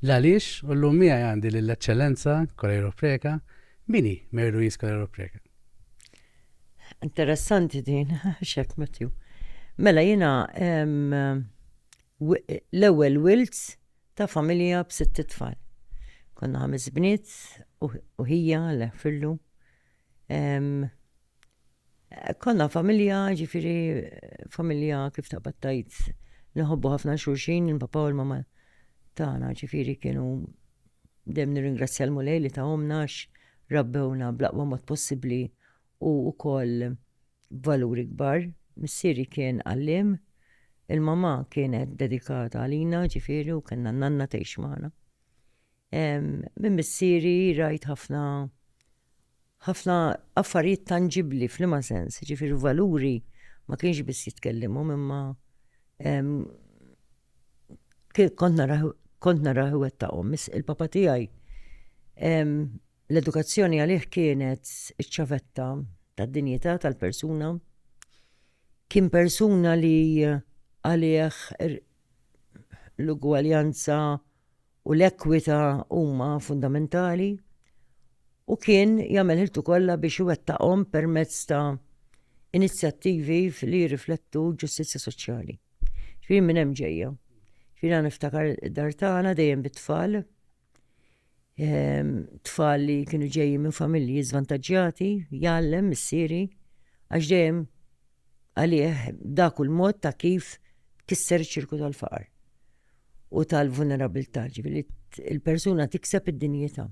L-għaliex u l-lum miegħi għandi lill-Eċċellenza Kolejro Preka, mini Mary Louise Kolejro Preka. Interessanti din, xek Matthew. Mela jina l-ewwel Wilts Ta' familja b'sitt itfal. Konna ħames bniet u ħija, Alla jħfirlu. Konna familja, ġifiri, familja kif ta' battajt, nħobbu ħafna xulxin, il-papa u l-mama tagħna, ġifiri kienu dem nirringrazzja l-mulej li ta' omnax, rabbewna blaqwa mod possibli u wkoll b'valuri kbar. Missieri kien għalliem, il-mamà kienet dedikata għalina, ġifieri u kellna n-nanna tgħix magħna. Minn missieri rajt ħafna ħafna affarijiet tanġibbli f'liema sens, ġifieri valuri ma kienx biss jitkellimhom imma kont naraħ kont naraħ iwettaqhom. Il-papa tiegħi l-edukazzjoni għalih kienet iċ-ċavetta tad-dinjità tal-persuna. Kien persuna li għalih l-ugwaljanza u l-ekwità huma fundamentali u kien jagħmel ħiltu kollha biex iwettaqhom permezz ta' inizjattivi li jirriflettu ġustizzja soċjali. Ġifieri minn hemm ġejja. Ġifieri għan niftakar dar tagħna dejjem bit-tfal, ehm, tfal li kienu ġejji minn familji żvantaġġjati, jgħallem missieri, għax dejjem għalih dak il-mod ta' kif kisser ċirku tal-faqar. u tal-vulnerabilità, ġifieri il-persuna tikseb id-dinjità.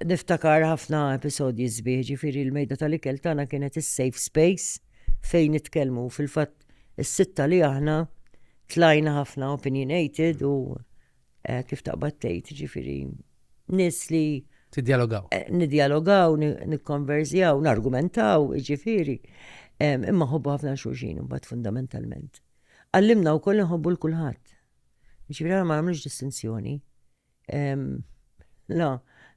Niftakar ħafna episodji sbieħ, ġifieri l-mejda tal-ikel tagħna kienet is-safe space fejn nitkellmu fil-fatt is-sitta li aħna tlajna ħafna opinionated u Eh, kif taqbad tgħid, ġifieri nies li Tidjalogaw. Eh, nidjalogaw, nikkonversjaw, nargumentaw, ġifiri. Imma ħobbu ħafna xulxin, bat fundamentalment. Għallimna u koll nħobbu l-kulħat. Ġifiri għal ma għamlux distinzjoni. La,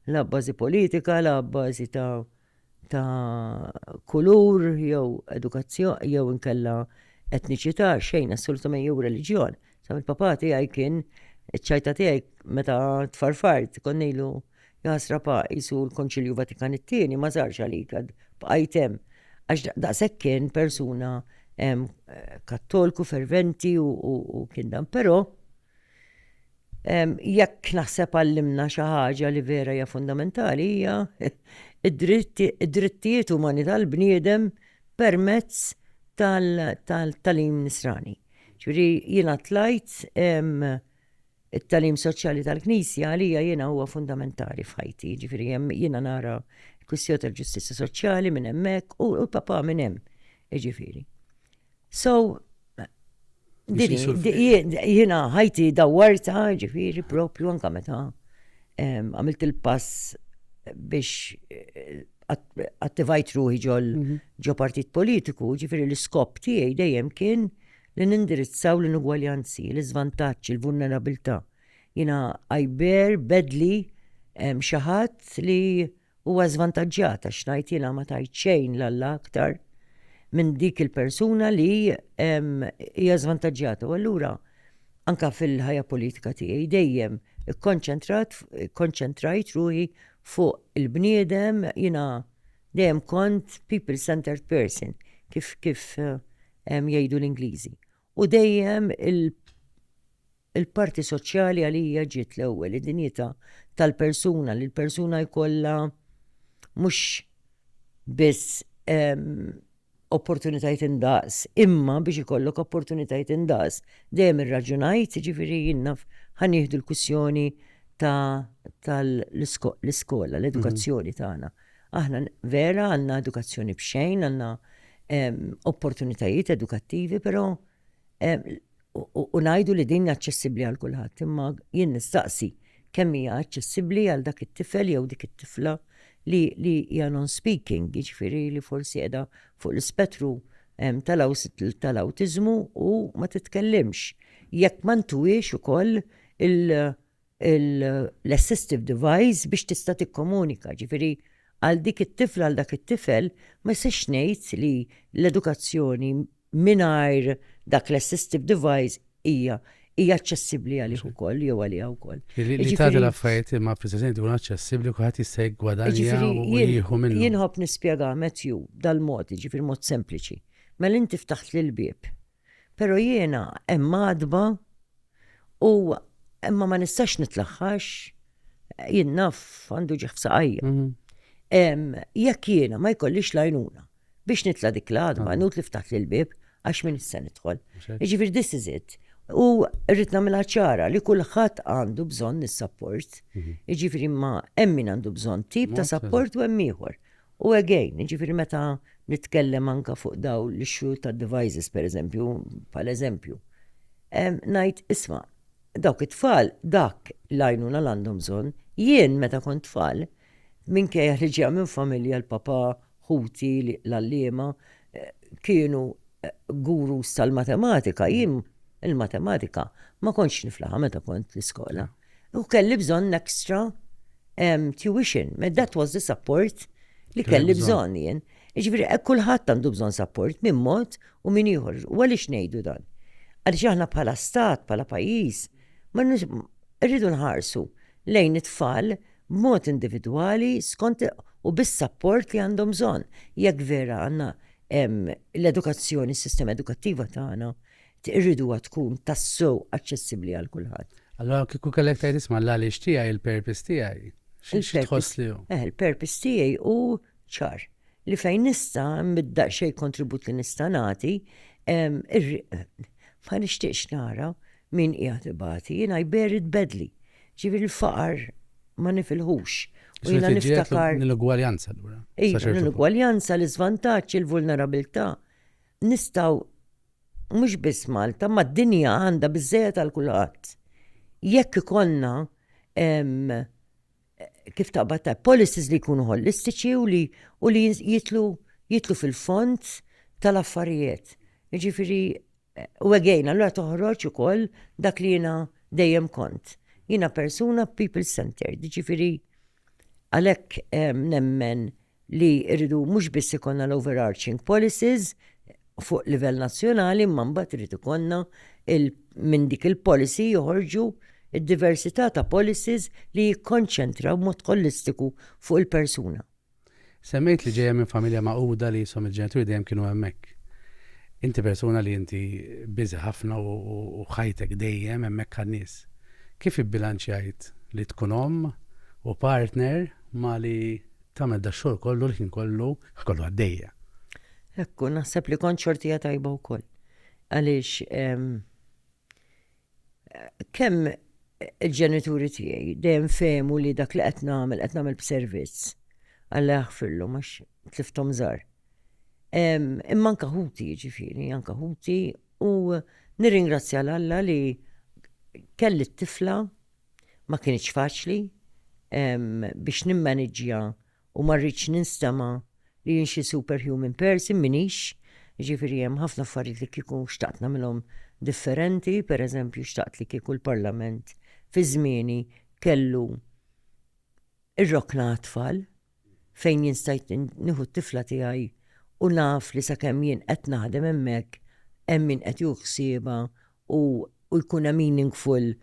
la bazi politika, la bazi ta' ta' kulur jew edukazzjoni jew inkella etniċità xejn assolutament jew reliġjon. Sa mill-papa tiegħi kien iċ-ċajta tiegħi meta tfarfart kont ngħidu jasra pa jisu l-Konċilju Vatikan it-tieni ma żarx għalik għad bqajt hemm. Għax daqshekk kien persuna kattolku ferventi u kien dan, però Jekk naħseb għallimna xi ħaġa li vera hija fundamentali hija d-drittijiet umani tal-bniedem permezz tal-tagħlim nisrani. Ġifieri jiena tlajt it-tagħlim soċjali tal-Knisja għalija jiena huwa fundamentali f'ħajti, ġifieri hemm jiena nara l-kwistjoni tal-ġustizzja soċjali minn hemmhekk u l-Papa minn hemm, jiġifieri. So, jina ħajti dawarta ġifiri propju anka meta għamilt il-pass biex eh, attivajt ruħi ġol mhm. ġo partit politiku, ġifiri l-iskop tiegħi dejjem kien li nindirizzaw l-inugwaljanzi, l-izvantaċ, l-vulnerabilità. Jina għajber, bedli, xaħat li Huwa żvantaġġjat għax ngħid jiena ma tajt xejn l-Alla aktar minn dik il-persuna li hija żvantaġġjata. U allura anka fil-ħajja politika tiegħi dejjem ikkonċentrat, ikkonċentrajt ruħi fuq il-bniedem, jiena dejjem kont people-centered person kif kif jgħidu l-Ingliżi. U dejjem il-parti soċjali għalija ġiet l-ewwel, id-dinjità tal-persuna li l-persuna jkollha mhux biss opportunitajiet indaqs, imma biex ikollok opportunitajiet indaqs. Dejjem irraġunajt, ġifieri jien naf ħa nieħdu l-kwistjoni tal-iskola, l-edukazzjoni tagħna. Aħna vera għandna edukazzjoni b'xejn, għandna opportunitajiet edukattivi, però u ngħidu li din aċċessibbli għal kulħadd, imma jien nistaqsi kemm hija aċċessibbli għal dak it-tifel jew dik it-tifla li hija non-speaking, jiġifieri li forsi qiegħda fuq l-ispettru tal-awtiżmu u ma titkellimx. Jekk ma ntuwiex ukoll l-assistive device biex tista' tikkomunika, ġifieri għal dik it-tifla għal dak it-tifel ma jistax ngħid li l-edukazzjoni mingħajr dak l-assistive device hija hija aċċessibbli għalih ukoll jew għaliha wkoll. Li tagħti l-affarijiet imma preżenti tkun aċċessibbli kulħadd jista' jiggwadanja u jieħu minnu. Jien ħobb nispjega Matthew dal-mod, jiġifieri mod sempliċi. Mela inti ftaħt l-bieb Pero jiena hemm għadba u imma ma nistax nitlaħħax jien naf għandu ġieħ f'saqajja. Mhm. Jekk jiena ma jkollix lajnuna biex nitla dik l-għadba, ah. nut li ftaħt l-bib għax minn issa nidħol. Ġifir this is it. U rrit namela ċara li kullħat għandu bżon nis-sapport. Mhm. Ġifiri ma emmin għandu bżon tip ta' sapport u emmiħor. U again, ġifiri meta nitkellem anka fuq daw l-issue ta' devices, per eżempju, pal eżempju, najt isma, dawk it-tfal, dak lajnuna l-għandhom bżon, jien meta kont tfal, minn kejja li ġeja minn familja l-papa, ħuti, l-allima, kienu gurus tal-matematika, jien il-matematika ma kontx niflaħa meta kont l-iskola. U kelli bżonn extra tuition, that was the support li kelli bżonn jien. Ġifieri eh, kulħadd għandu bżonn support minn mod u minn ieħor. U għaliex ngħidu dan? Għaliex aħna bħala stat, bħala pajjiż, ma rridu nħarsu lejn it-tfal b'mod individwali skont u bis-sapport li għandhom bżonn. Jekk vera għandna l-edukazzjoni, s-sistema edukattiva tagħna irriduha tkun tassew aċċessibbli għal kulħadd. Allora kieku kellek tgħid isma' l-għaliex tiegħi, il-purpose tiegħi. Xi tħoss li hu? Eh, il-purpose tiegħi hu ċar li fejn nista' middaq xejn kontribut li nista' nagħti, ma nixtieqx nara Min qiegħed ibati, jiena I bear it badly. Ġifieri l-faqar ma nifilħux. U jiena niftakar. L-inugwaljanza allura. Iva, l-inugwaljanza, l-iżvantaġġ, il-vulnerabilità. Nistgħu mhux biss Malta, ma d-dinja għandha biżżejjed għal kulħadd. Jekk ikollna kif taqbad ta' policies li jkunu holistiċi u li u li jitlu jitlu fil-fond tal-affarijiet. Jiġifieri u again, allura toħroġ ukoll dak li jiena dejjem kont. Jiena persuna people centered, jiġifieri għalhekk nemmen li rridu mhux biss ikollna l-overarching policies fuq livell nazzjonali imma mbagħad irid ikollna minn dik il-policy joħorġu d-diversità ta' policies li jikkonċentraw b'mod ħolistiku fuq il-persuna. Semmejt li ġejja minn familja magħquda li jisom il-ġenituri dejjem kienu hemmhekk. Inti persuna li inti busy ħafna u ħajtek dejjem hemmhekk għan-nies. Kif ibbilanċjajt li tkun omm u partner ma' li Tagħmel dax-xogħol kollu l-ħin kollu kollu għaddejja. Hekk u naħseb li kont xortija tajba wkoll. Għaliex kemm il-ġenituri tiegħi dejjem fehmu li dak li qed nagħmel qed nagħmel b'servizz għalla jaħfirlu mhux tliftom żgħar. Imma anka ħuti ġifieri, anka ħuti u nirringrazzja l-Alla li kelli t-tifla ma kinitx faċli biex nimmaniġġja u ma rridx ninstema li jien xi superhuman person minix, ġifieri hemm ħafna affarijiet li kieku xtaqt nagħmilhom differenti, pereżempju xtaqt li kieku l-Parlament fi żmieni kellu ir-rokna għat-tfal, fejn jien stajt nieħu t-tifla tiegħi u naf li sakemm jien qed naħdem hemmhekk hemm min qed jieħu ħsiebha u u jkun hemm meaningful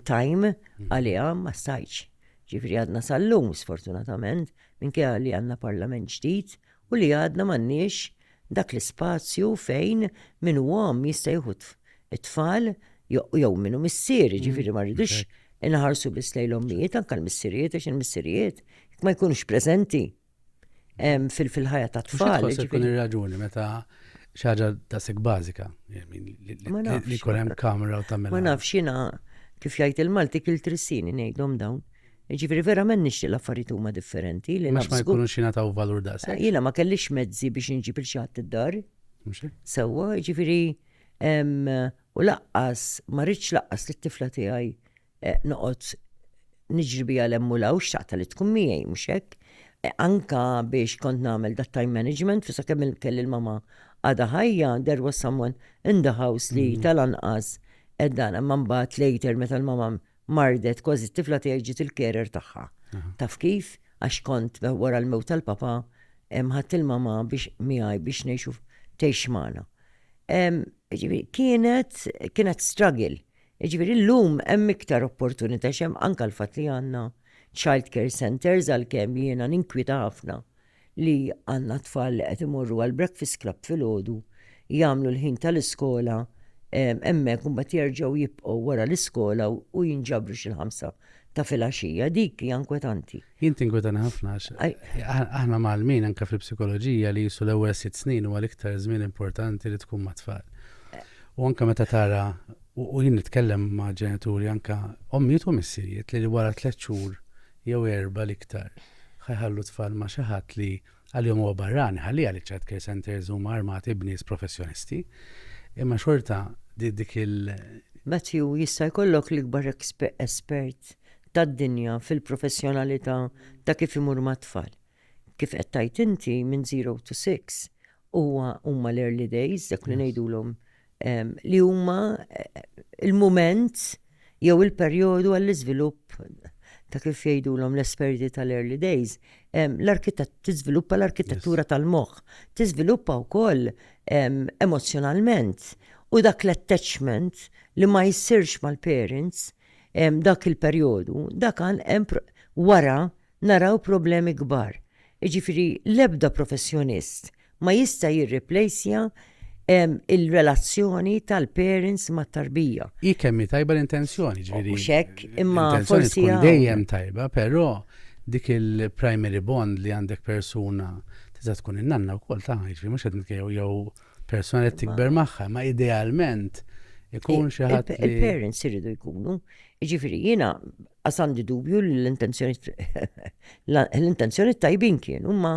time għaliha ma stajtx. Ġifieri għadna sal-lum sfortunatament minkejja li għandna parlament ġdid u li għadna m'għandniex dak l-ispazju fejn min hu omm jista' jieħu t-tfal jew min hu missier, jiġifieri ma rridux inħarsu biss lejn l-ommijiet anke l-missirijiet għax il-missirijiet jekk ma jkunux preżenti fil-ħajja tat-tfal. Xi tkun ir-raġuni meta xi ħaġa daqshekk bażika li jkun hemm kamra u tagħmel. Ma nafx jiena kif jgħid il-Malti kil trissini ngħidhom dawn. Ġifiri, verament nixtieq l-affarijiet huma differenti. Li ma jkunux xina taw valur da' se. Jina ma kellix mezzi biex nġib il-xatt id-dar. Sewa, ġifiri, u laqqas, ma rridx laqqas li t-tifla tiegħi eh, noqgħod niġri bija lemmu law xtaqta li tkun miegħi mhux hekk. Eh, anka biex kont nagħmel dat time management, fi sakemm kelli l-mama għada ħajja, there was someone in the house li mm. tal-anqas eddana eh, man bat later meta l-mama mardet kważi t-tifla tiegħi ġiet il-carer tagħha. Taf kif? Għax kont wara l-mewt tal-papa ħadd il-mama biex miegħi biex ngħixu tgħix magħna. Kienet kienet struggle. Ġifieri llum hemm iktar opportunità xem anke l-fatt li għandna child care centers għalkemm jiena ninkwita ħafna li għandna tfal li qed imorru għal breakfast club filgħodu, jagħmlu l-ħin tal-iskola hemmhekk u mbagħad jerġgħu jibqgħu wara l-iskola u jinġabru xi l-ħamsa ta' filgħaxija. Dik hija inkwetanti. Jien tinkwetani ħafna għax aħna mgħallmin anke fil-psikoloġija li qisu l-ewwel sitt snin huwa l-iktar żmien importanti li tkun mat-tfal. U anke meta tara u jien nitkellem ma' ġenituri anke ommijiet u missirijiet li wara tliet xhur jew erbgħa l-iktar, ħa jħallu t-tfal ma' xi ħadd li għalihom huwa barrani, ħalliha li ċ-child care centres huma armati b'nies professjonisti, imma xorta dik il-. Matthew, jista' jkollok l-ikbar espert tad-dinja fil-professjonalità ta' kif imur mat-tfal. Kif qed tgħid inti minn zero to six, huwa huma l-early days, dak li ngħidulhom li huma il-mument jew il-perjodu għall-iżvilupp ta' kif jgħidulhom l-esperti tal-early days, l-arkitett tiżviluppa l-arkitettura tal-moħħ, tiżviluppa wkoll emozzjonalment u dak l-attachment li ma jsirx mal-parents dak il-perjodu, dak hemm wara naraw problemi kbar. Jiġifieri l-ebda professjonist ma jista' jirriplejsja l-relazzjoni tal-parents mat-tarbija. Hi kemm hi tajba l-intenzjoni, ġifieri. Mhux hekk, imma forsi. L-intenzjoni tkun dejjem tajba, però dik il-primary bond li għandek persuna tista' tkun in-nanna wkoll tagħha, jiġifieri mhux qed nitkellmu jew persuna li tikber magħha, imma idealment ikun xi ħadd. Il-parents iridu jkunu. Jiġifieri jiena Għas għandi dubju li l-intenzjoni tajbin kienu, ma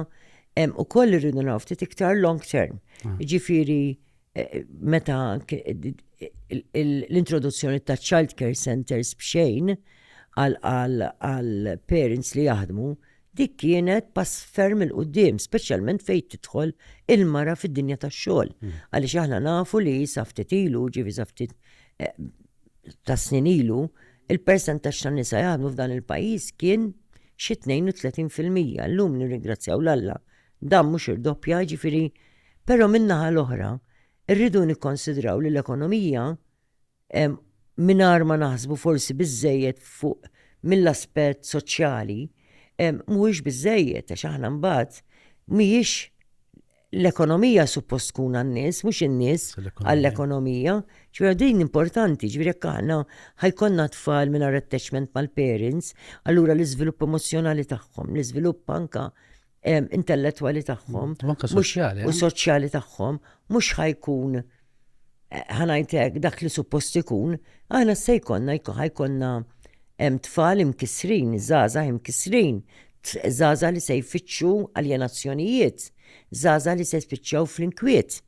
u koll irridu naw ftit iktar long term. Ah. Ġifiri, eh, meta l-introduzzjoni ta' child care centers bxejn għal parents li jaħdmu, dik kienet pass ferm il-qoddim, specialment fejt tidħol il-mara fid-dinja tax xogħol. Hmm. Għaliex aħna nafu li saftitilu, ġivi saftit eh, ta' snin ilu, il-persentaġġ ta' nisa jaħdmu f'dan il-pajjiż kien xi 32 fil-mija. Llum nirringrazzjaw l-Alla dan mhux irdoppja, jiġifieri però min-naħa l-oħra rridu nikkonsidraw li l-ekonomija mingħajr ma naħsbu forsi biżżejjed fuq mill-aspett soċjali mhuwiex biżżejjed għax aħna mbagħad mhijiex l-ekonomija suppost tkun għan-nies, mhux in-nies għall-ekonomija. Ġifieri din importanti, ġifieri jekk aħna ħajkonna tfal mingħajr attachment mal-parents, allura l-iżvilupp emozzjonali tagħhom, l-iżvilupp anka intellettwali tagħhom, u soċjali tagħhom, mhux ħajkun ħanajtek dak li suppost ikun, aħna se jkollna ħajkonna hemm tfal imkissrin, żgħażagħ imkissrin, żgħażagħ li se jfittxu aljenazzjonijiet, żgħażagħ li se spiċċaw fl-inkwiet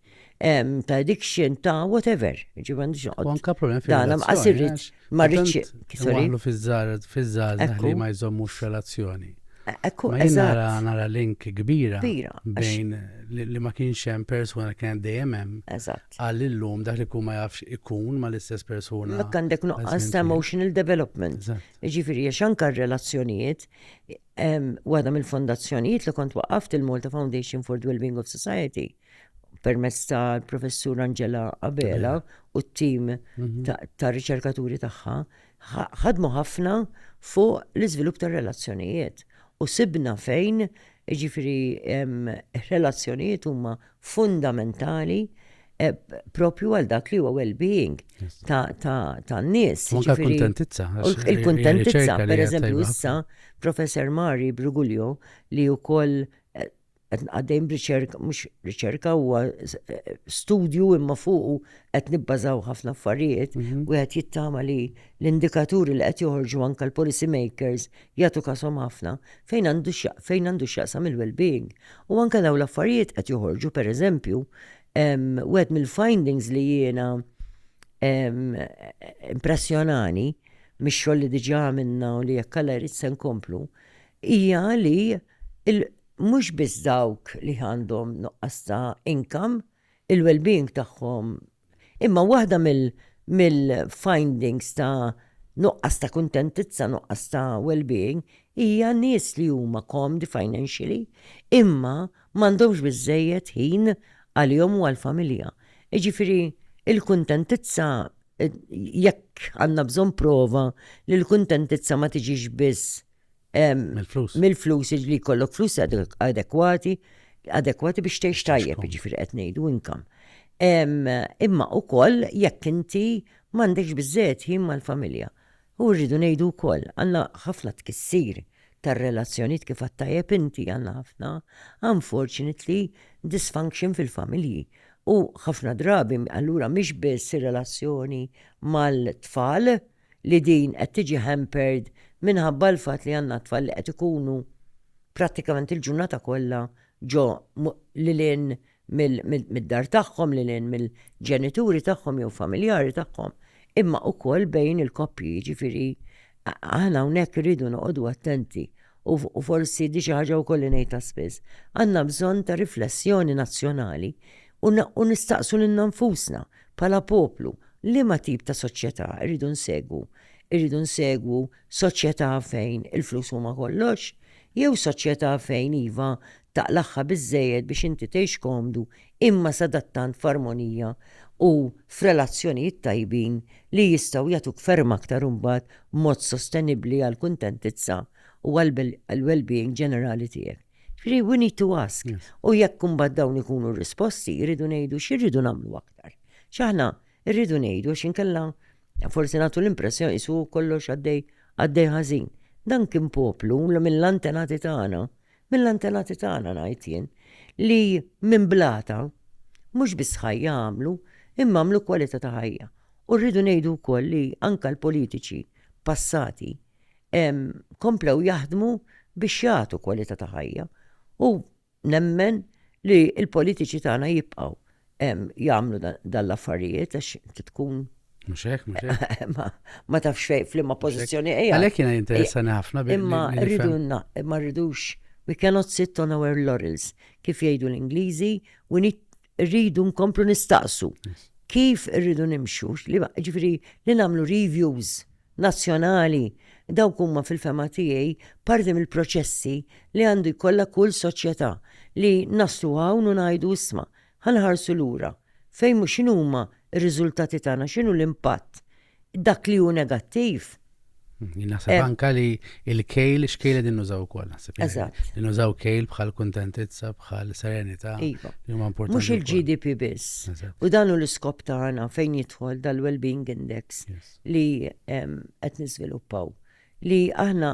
ta' addiction ta' whatever. Ġivan ġoqgħod. Anka problem fil-relazzjoni. Ma rridx. Waħlu fiż-żgħażagħ li ma jżommux relazzjoni. Ekku, eżatt. Nara link kbira. Kbira. Bejn li ma kienx hemm persuna kien dejjem hemm. Eżatt. Għal illum dak li kun ma jafx ikun ma l-istess persuna. Dak għandek nuqqas ta' emotional development. Ġifieri għax anke r-relazzjonijiet waħda mill-fondazzjonijiet li kont waqaft il-Malta Foundation for the Wellbeing of Society permezz tal-professur Angela Abela u t-tim mhm. ta' riċerkaturi tagħha ħadmu ħafna fuq l-iżvilupp tar-relazzjonijiet u sibna fejn ġifiri relazzjonijiet huma fundamentali e, propju għal dak li huwa well-being ta' nies. Anka l-kuntentizza. Il-kuntentizza, per eżempju, issa, professor Mari Brugulio, li u koll qed nqaddejn b'riċerka, mhux riċerka huwa eh, studju imma fuqu qed nibbażaw ħafna affarijiet, mhm. wieħed jittama li l-indikaturi li qed joħorġu anke l-policy makers jagħtu kasom ħafna fejn għandu fejn għandu x'jaqsam il-well-being. U anke dawn l-affarijiet qed joħorġu pereżempju wieħed mill-findings li jiena impressjonani mix-xogħol li diġà għamilna u li jekk jrid se nkomplu hija li mhux biss dawk li għandhom nuqqas ta' income, il-wellbeing tagħhom, imma waħda mill-findings ta' nuqqas ta' kuntentizza, nuqqas ta' wellbeing hija nies li huma komdi financially imma m'għandhomx biżżejjed ħin għalihom u għall-familja. Jiġifieri l-kuntentizza, jekk għandna bżonn prova li l-kuntentizza ma tiġix biss mill-flus. Mill-flus li jkollok flus adekwati, adekwati biex tgħix tajjeb, ġifieri qed ngħidu inkam. Imma ukoll jekk inti m'għandekx biżżejjed ħin mal-familja. U rridu ngħidu wkoll għandna ħafna tkissir tar-relazzjonijiet kif għattajjeb inti għandna ħafna unfortunately dysfunction fil-familji. U ħafna drabi allura mhix biss ir-relazzjoni mal-tfal, li din qed tiġi hampered minħabba l-fatt li għandna tfal li qed ikunu prattikament il-ġurnata kollha ġo lil hinn mid-dar tagħhom, lil hinn mill-ġenituri tagħhom jew familjari tagħhom, imma wkoll bejn il-koppji, jiġifieri aħna hawnhekk irridu noqogħdu attenti u forsi di xi ħaġa wkoll li ngħidha spiss. Għandna bżonn ta' riflessjoni nazzjonali u nistaqsu lilna nfusna Bħala poplu, liema tip ta' soċjetà rridu nsegwu? Irridu nsegwu soċjetà fejn il-flus huma kollox? Jew soċjetà fejn iva, taqlagħha biżżejjed biex inti tgħix komdu imma sadattant f'armonija u f'relazzjonijiet tajbin li jistgħu jagħtuk ferm aktar imbagħad b'mod sostenibbli għall-kuntentizza u għall-wellbeing ġenerali tiegħek? Ġifieri we need to ask. U jekk imbagħad dawn ikunu risposti, irridu ngħidu x'irridu nagħmlu aktar. X'aħna rridu ngħidu għax inkella forsi nagħtu l-impressjoni isu kollox għaddej għaddej ħażin. Dan kien poplu mill-antenati tagħna, mill-antenati tagħna ngħid jien, li minn blata mhux biss ħajja għamlu, imma għamlu kwalità ta' ħajja. U rridu ngħidu wkoll li anka l-politiċi passati komplew jaħdmu biex jagħtu kwalità ta' ħajja u nemmen li l-politiċi tagħna jibqgħu jagħmlu dan l-affarijiet għax inti tkun Muxek, muxek. Ma tafx fej flimma pozizjoni eja. Għalek jena jinteressani ħafna bil Imma rridu imma rridux we cannot sit on our laurels kif jgħidu l-Ingliżi u rridu nkomplu nistaqsu kif rridu nimxu li ġifri li namlu reviews nazzjonali, dawk huma fil-fehma tiegħi parti mill-proċessi li għandu jkollha kull soċjetà, li naslu hawn u ngħidu isma', ħa nħarsu lura, fejn mhu x'inhuma r-riżultati tagħna, x'inhu l-impatt, dak li hu negattiv. Jien naħseb anke li l-kejl, x'kejl qegħdin nużaw ukoll naħseb. Eżatt. Li nużaw kejl bħal kuntentizza, bħal serenità. Iva. Mhux il-GDP biss. U dan hu l-iskop tagħna fejn jidħol dal-well-being index. li qed niżviluppaw, li aħna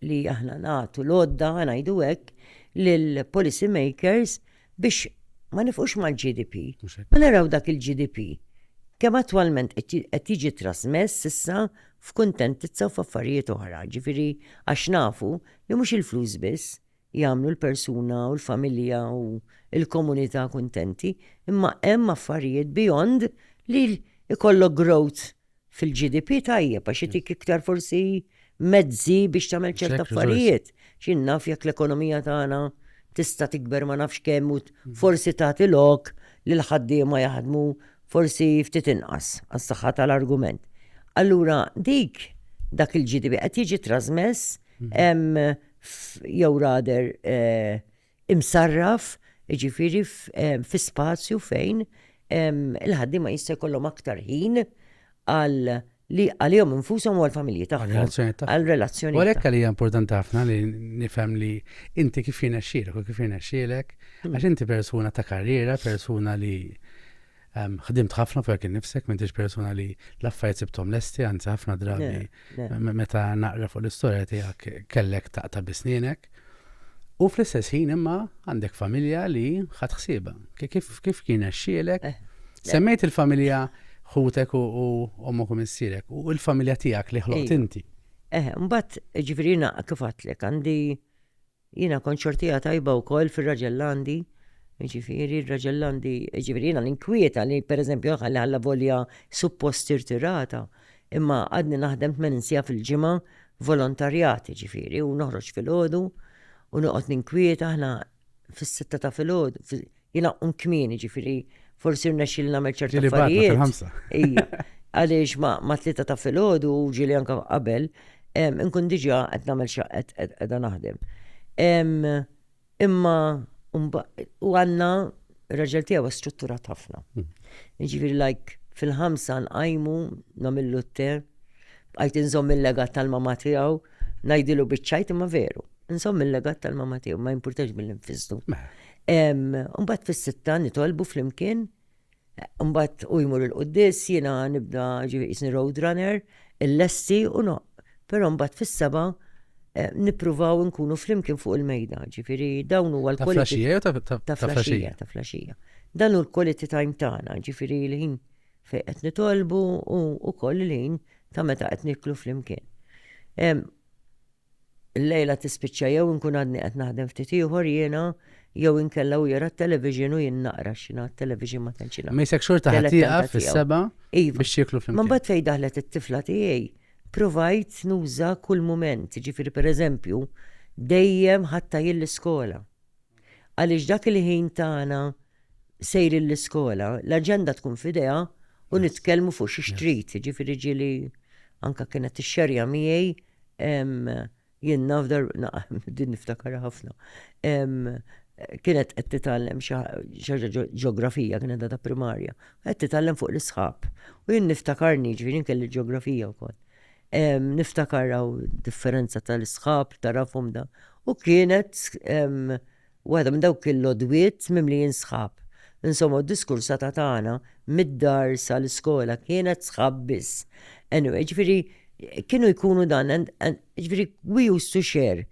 li aħna nagħtu l-għodda ngħidu hekk lill-policy makers biex ma nifqux mal-GDP. Ma naraw dak il-GDP kemm attwalment qed jiġi trasmess issa f'kuntentizza u f'affarijiet oħra, ġifieri għax nafu li mhux il-flus biss, jagħmlu l-persuna u l-familja u l-komunità kuntenti, imma hemm affarijiet beyond li jkollok growth fil-GDP tajjeb għax itik iktar forsi mezzi biex tagħmel ċerta affarijiet. X'jien naf jekk l-ekonomija tagħna tista' tikber ma nafx kemm u forsi tagħti lok li l-ħaddiema jaħdmu forsi ftit inqas għas-saħħa tal-argument. Allura dik dak il-GDP qed jiġi trażmess jew rader eh, imsarraf, ġifiri fi spazju fejn il-ħaddi ma jista' jkollhom aktar ħin għal li għalihom infushom u għal-familji tagħhom. Għal relazzjoni. U għalhekk li importanti ħafna li nifhem li inti kif jiena xxielek u kif jiena xxielek, hmm. għax inti persuna ta' karriera, persuna li Ħdimt ħafna fuq innifsek, m'intix persuna li l-affarijiet sibthom lesti, anzi ħafna drabi meta naqra fuq l-istorja tiegħek kellek taqta' bisnienek. U fl-istess ħin imma għandek familja li ħadd ħsiebha. Kif kien xielek? Eh, Semmejt il-familja ħutek u ommok u missierek u l-familja tiegħek li ħloqt inti. Eh, mbagħad ġifieri naqqa kif għatlek għandi Jiena kont xortija tajba wkoll fir-Raġellandi, jiġifieri r-Raġellandi, jiġifieri jiena ninkwieta li pereżempju ħalli ħalla volja suppost irtirata, imma għadni naħdem tmenin siegħa fil-ġimgħa volontarjat, jiġifieri u noħroġ filgħodu u noqgħod ninkwieta aħna fis-sitta ta' filgħodu, Jinaqqum kmieni ġifiri, forsi rnexxil nagħmel ċerti affarijiet. Ija, għaliex ma' tlieta ta' filgħodu u ġili anka qabel, nkun diġà qed nagħmel xaqet qiegħda naħdem. Imma u għandna raġel tiegħu strutturat ħafna. Hmm. Ġifieri like fil-ħamsa nqajmu nagħmillu t-te, bqajt inżomm il-legat tal-mama tiegħu, ngħidilu biċċajt imma veru. Nżomm il-legat tal-mama tiegħu ma jimpurtax mill-infizdu. Mbagħad fis-sitta nitolbu flimkien, mbagħad u jmur il-quddis jiena nibda ġifieri road runner, il-lesti u no. Però mbagħad fis-seba' eh, nippruvaw nkunu flimkien fuq il-mejda, ġifieri dawn huwa l-quality. Ta' flaxija, ta' flaxija. Dan hu l-quality time tagħna, ġifieri l-ħin fejn qed nitolbu u wkoll il-ħin ta' meta qed niklu flimkien. Il-lejla tispiċċa jew inkun għadni qed naħdem ftit ieħor jiena jew inkella u jara t-television u jien naqra xina t-television ma tantx Ma jisek xorta ħatiqa fis-seba iva. biex jieklu flimkien. Ma mbagħad fejn daħlet it-tifla tiegħi provajt nuża kull mument, ġifieri pereżempju dejjem ħatta jien l-iskola. Għaliex dak il-ħin tagħna sejrin l-iskola, l-aġenda tkun f'idejha u nitkellmu fuq xi xtrit, ġifieri ġieli anka kienet tixxerja miegħi jien naf dar din niftakar ħafna. Kienet qed titgħallem xi ħaġa ġeografija kienet ta' primarja, qed titgħallem fuq l-isħab. U jien niftakarni ġifieri kelli ġeografija wkoll. Niftakar hawn differenza tal-isħab, tarafhom da. U kienet waħda minn dawk il-lodwiet mimlijin sħab. Insomma, diskursata tagħna mid-dar sal-iskola kienet sħab biss. Anyway, ġifieri kienu jkunu dan, ġifieri we used to share.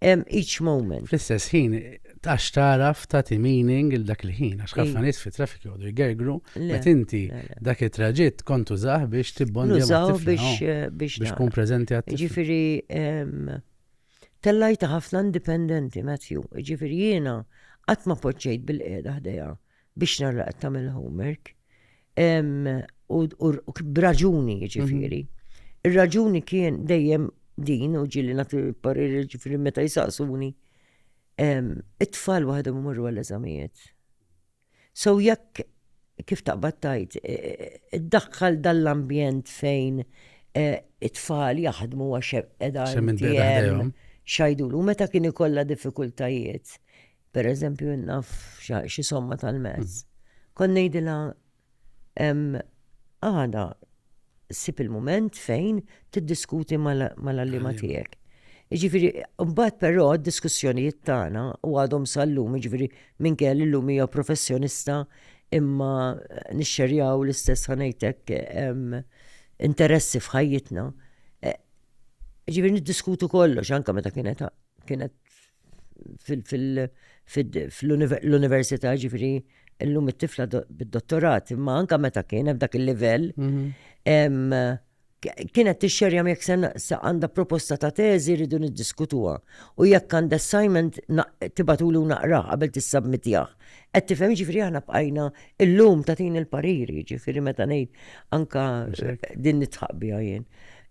em, each moment. Fl-istess ħin, għax taraf tagħti meaning il dak il-ħin, għax ħafna nies fi traffic jgħodu jgergru, met inti dak it-traġitt kont użah biex tibbondja biex eh, biex tkun preżenti għat Ġifieri tellajta ħafna indipendenti, Matthew, ġifieri jiena qatt ma poġġejt bil-qiegħda ħdejha biex nara qed tagħmel homework. U b'raġuni jiġifieri. Ir-raġuni kien dejjem din u ġili nagħti pariri ġifieri meta jisaqsuni it-tfal waħedhom imorru għall-eżamijiet. So jekk kif taqbad tajt, e, e, e, daħħal dall-ambjent fejn it-tfal jaħdmu għax edha xajdulu meta kien ikollha diffikultajiet. per eżempju naf xi somma tal-mezz, kon ngħidilha għada sib il-moment fejn tiddiskuti mal-allima tiegħek. Ġifiri, mbagħad però d-diskussjonijiet tagħna u għadhom sal-lum, ġifiri, minn kell illum hija professjonista imma nixxerjaw l-istess ħanejtek interessi f'ħajjitna. E, ġifiri, niddiskutu kollox, anka meta kienet kienet fil-università ġifiri illum it-tifla bid-dottorat, imma anka meta kien hemm dak il-livell, mhm. kienet tixxerja jekk se għandha proposta ta' teżi rridu niddiskutuha. U jekk għandha assignment tibatulu naqra qabel tissabmitjah. Qed tifhem ġifieri aħna bqajna illum tagħtin il-pariri, ġifieri meta ngħid anka din nitħaq biha jien.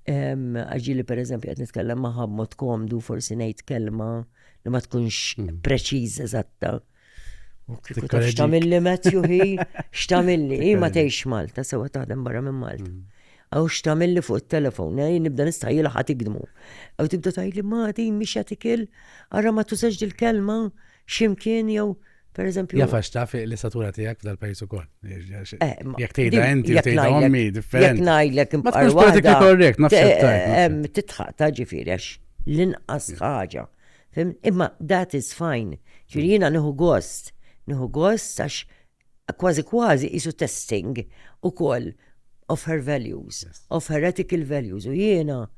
Għaġili per eżempju għed nitkellem maħħa b'mod komdu, forsi ngħid kelma li ma tkunx hmm. preċiż eżatta. U kieku taf xtamilli Matthew hi, xtamilli, hi ma tgħix Malta, sewa taħdem barra minn Malta. Hmm. Għaw xtamilli fuq il-telefon, eh, nibda nistajji laħat ikdmu. Għaw tibda tajli ma di miex jatikil, għarra ma tużax dil-kelma, x'imkien jew pereżempju. Jaf għax taf l-istatura tiegħek f'dal-pajjiż ukoll. Eh, jekk tgħidha inti u tgħidha ommi differenti. Jekk ngħidlek imqar waħda. korrekt, nafx eh, Titħaq ta' ġifieri għax l-inqas ħaġa. Imma that is fine. Ġifieri jiena nieħu gost. Nieħu gost għax kważi kważi isu testing ukoll of her values, of her ethical values. U jiena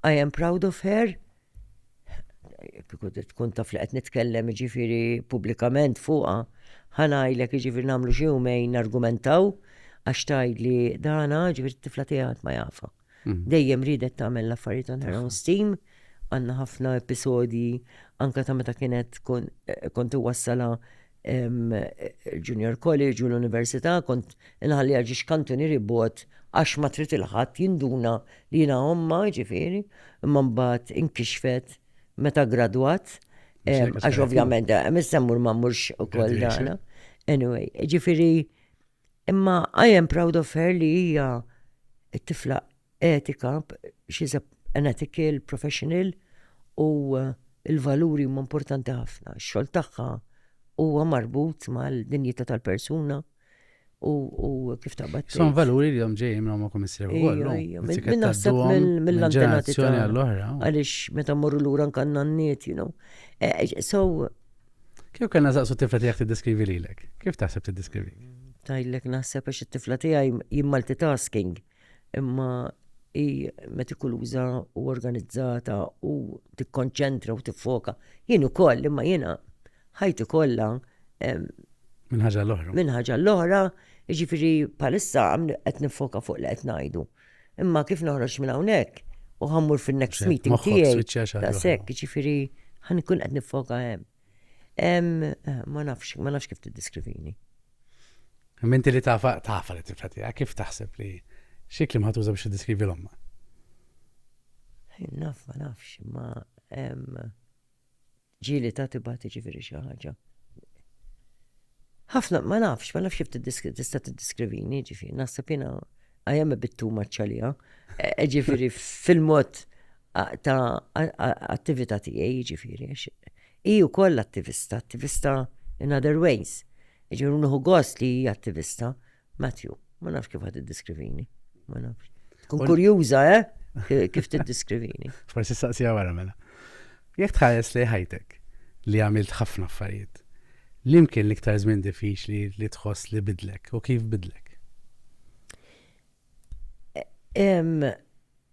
I am proud of her tkun taf li qed nitkellem ġifiri pubblikament fuqha, ħanajlek ġifiri namlu xi jumejn nargumentaw għax tajd li dana ġifiri t-tifla tiegħek ma jafa. Mm. Dejjem ridet tagħmel l-affarijiet on her own steam, għandna ħafna episodji anka ta' meta kienet kont iwassala il-junior college u l-università kont inħalli għagġi xkantunieri bot għax ma trid il-ħadd jinduna li jina omma ġifiri, imma mbagħad inkixfet meta gradwat, għax ovvjament, eh, missemmur ma mmurx u koll dana. Anyway, ġifiri, Imma I am proud of her li hija t-tifla etika, she's a, an ethical professional u eh, il-valuri huma importanti ħafna. Ix-xogħol tagħha huwa marbut mal-dinjità tal-persuna u, u kif taqbad. Son valuri li jom ġejjin minn ma komissir u għallu. Minnaħseb mill-antenati tal-oħra. Għalix meta morru l-ura nkanna n-niet, you know. Eh, so, Kif kellna saqsu tifla tiegħek tiddeskrivi lilek? Kif taħseb tiddeskrivi? Tajlek naħseb għax it-tifla tiegħi jien multitasking imma hi metikuluża u organizzata u tikkonċentra u tiffoka. Jien ukoll imma jiena ħajti kollha minn ħaġa l-oħra. Minn ħaġa l-oħra, jiġifieri palissa qed nifoka fuq li qed ngħidu. Imma kif noħroġ minn hawnhekk u ħammur fin-next meeting tiegħi. Daqshekk, ġifieri ħan ikun qed nifoka hemm. Eh, ma nafx, ma nafx kif tiddiskrivini. Minti li tafa, tafa li tifla tiegħek, kif taħseb li xi klim ħatuża biex tiddeskrivi l-omma? Naf, ma nafx, ma Ġieli ta' tibgħat jiġifieri xi ħaġa. Ħafna ma nafx, ma nafx kif tista' tiddiskrivini, ġifieri naħseb jiena I am a bit too much għalija. E, e, ġifieri fil-mod ta' attività tiegħi, ġifieri. Hi wkoll attivista, attivista in other ways. Ġifieri nħu gost li hi attivista, Matthew, ma nafx kif għad id-diskrivini. Ma nafx. Kun kurjuża, eh? Kif t-diskrivini. Forsi saqsija wara mela. Jek tħares li ħajtek li għamilt ħafna affarijiet, li mkien liktar żmien diffiċli li tħoss li bidlek u kif bidlek?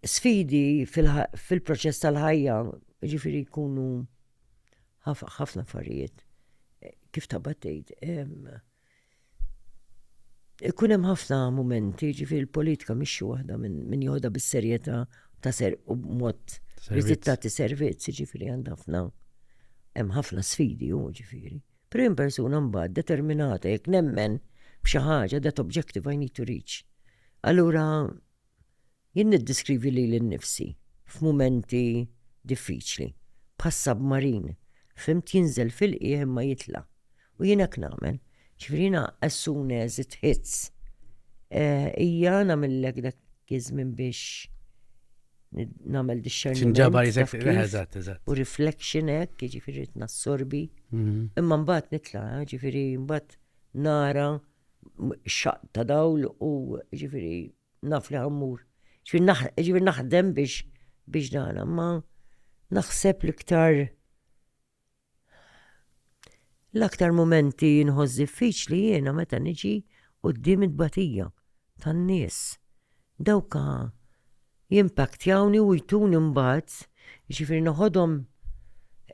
Sfidi fil-proċess tal-ħajja, ġifiri kunu ħafna affarijiet. Kif tabattejt? Ikun hemm ħafna mumenti, ġifieri l-politika mhix xi waħda minn joħda bis-serjetà ta' ser u b'mod li tittati servizz, ġifieri għand ħafna hemm ħafna sfidi hu ġifieri. Però hemm persuna mbagħad determinata jekk nemmen b'xi ħaġa that objective I need to reach. Allura Jien niddiskrivi lili nnifsi f'mumenti diffiċli, bħas-submarine, fhimt, jinżel fil-qiegħ imma jitla'. U jien hekk nagħmel. Ġifieri jiena as soon as it hits hija nagħmillek dak iż-żmien biex nagħmel discerniment. U reflection hekk, jiġifieri rrid nassorbi. Imma mbagħad nitla', jiġifieri mbagħad nara xaq ta' dawl u ġifiri naf li ħammur. Ġifiri naħdem biex biex dana, ma naħseb l-iktar l-aktar momenti nħoss diffiċli jiena meta niġi qudiem it-batija tan-nies Dawk jimpaktjawni u jtuni mbagħad, jiġifieri noħodhom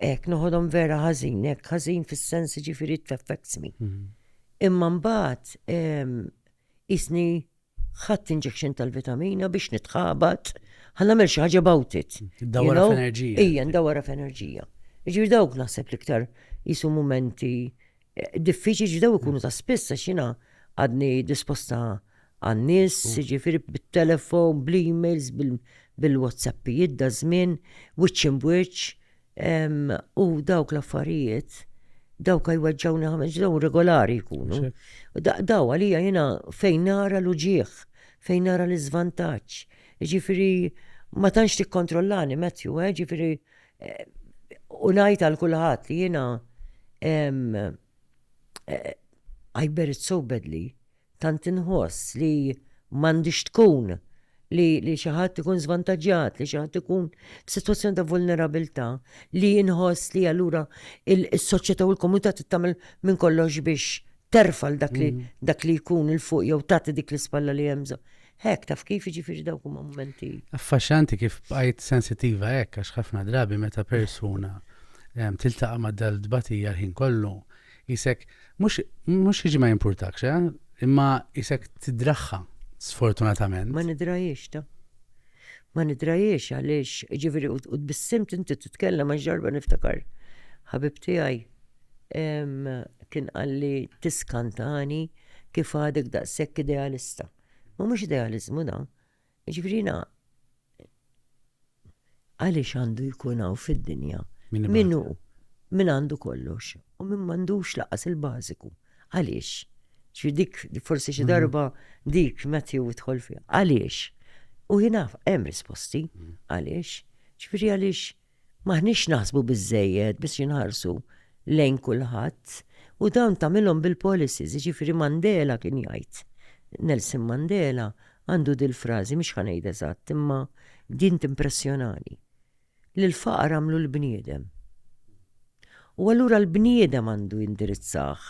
hekk, noħodhom vera ħażin, hekk ħażin fis-sens jiġifieri it affects me. Imma mbagħad qisni ħadt injection tal-vitamina biex nitħabat, ħa nagħmel xi ħaġa about it. Dawra f'enerġija. Ejja, ndawra f'enerġija. Jiġifieri dawk naħseb l-iktar jisu mumenti Diffiċi ġdew ikunu ta' spiss għax jiena għadni disposta għan-nies, jiġifieri bit-telefon, bl-emails, bil-WhatsAppijiet da żmien, wiċċ imbuċ, u dawk l-affarijiet dawk jweġġawni ħames ġdew regolari jkunu. Daw għalija jiena fejn nara l-uġieħ, fejn nara l-iżvantaġġ. Ġifieri ma tantx tikkontrollani Matthew, eh? ġifieri U ngħid għal kulħadd li jiena eh, I bear it so badly, tant inħoss li m'għandix tkun li li xi ħadd ikun żvantaġġjat, li xi ħadd ikun f'sitwazzjoni ta' vulnerabilità, li jinħoss li allura il-soċjetà u l-komunità tittamel minn kollox biex terfal dak li mm. dak li jkun il fuq jew tagħti dik l-ispalla li hemm Hekk, taf kif jiġifieri dawk huma mumenti. Affaxxanti kif bqajt sensittiva hekk għax ħafna drabi meta persuna ehm, tiltaqa' ma' dal-tbatija l-ħin kollu, isek mhux jiġi ma jimpurtakx, eh? imma isek tidraħħa sfortunatament. Ma nidrajiex ta' ma nidrajiex għaliex, ġiviri, u tbissim tinti titkellem għax ġarba niftakar. Ħabib tiegħi kien għalli tiskantani kif għadek daqshekk idealista. Ma mhux idealizmu da. Ġifieri jiena għaliex għandu jkun hawn fid-dinja min hu min għandu kollox u min m'għandux laqas il-bażiku. Għaliex? Ġifieri dik forsi xi mm. darba dik Matthew idħol fiha. Għaliex? U jiena hemm risposti mm. għaliex. Ġifieri għaliex M'aħniex naħsbu biżżejjed biex inħarsu lejn kulħadd u dawn tagħmilhom bil-policies, jiġifieri Mandela kien jgħid, Nelson Mandela għandu dil-frażi mhux ħa ngħid eżatt imma din timpressjonani, li l-faqar għamlu l-bniedem. U allura l-bniedem għandu jindirizzah.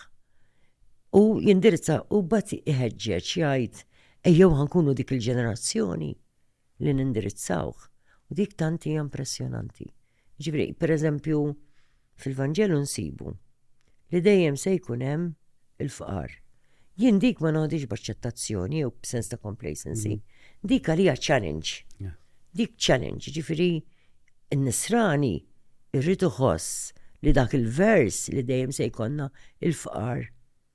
U jindirizza u bat iħeġġeġ jgħid ejjew ħankunu dik il-ġenerazzjoni li nindirizzawh u dik tant hija impressjonanti. Jiġifieri, pereżempju, fil-Vanġelu nsibu li dejjem se jkun hemm il-fqar. Jien dik ma noħdix b'aċċettazzjoni jew b'sens ta' complacency. Mhm. Dik għalija challenge. Dik challenge, ġifieri n-nisrani irrid iħoss li dak il-vers li dejjem se jkollna il-fqar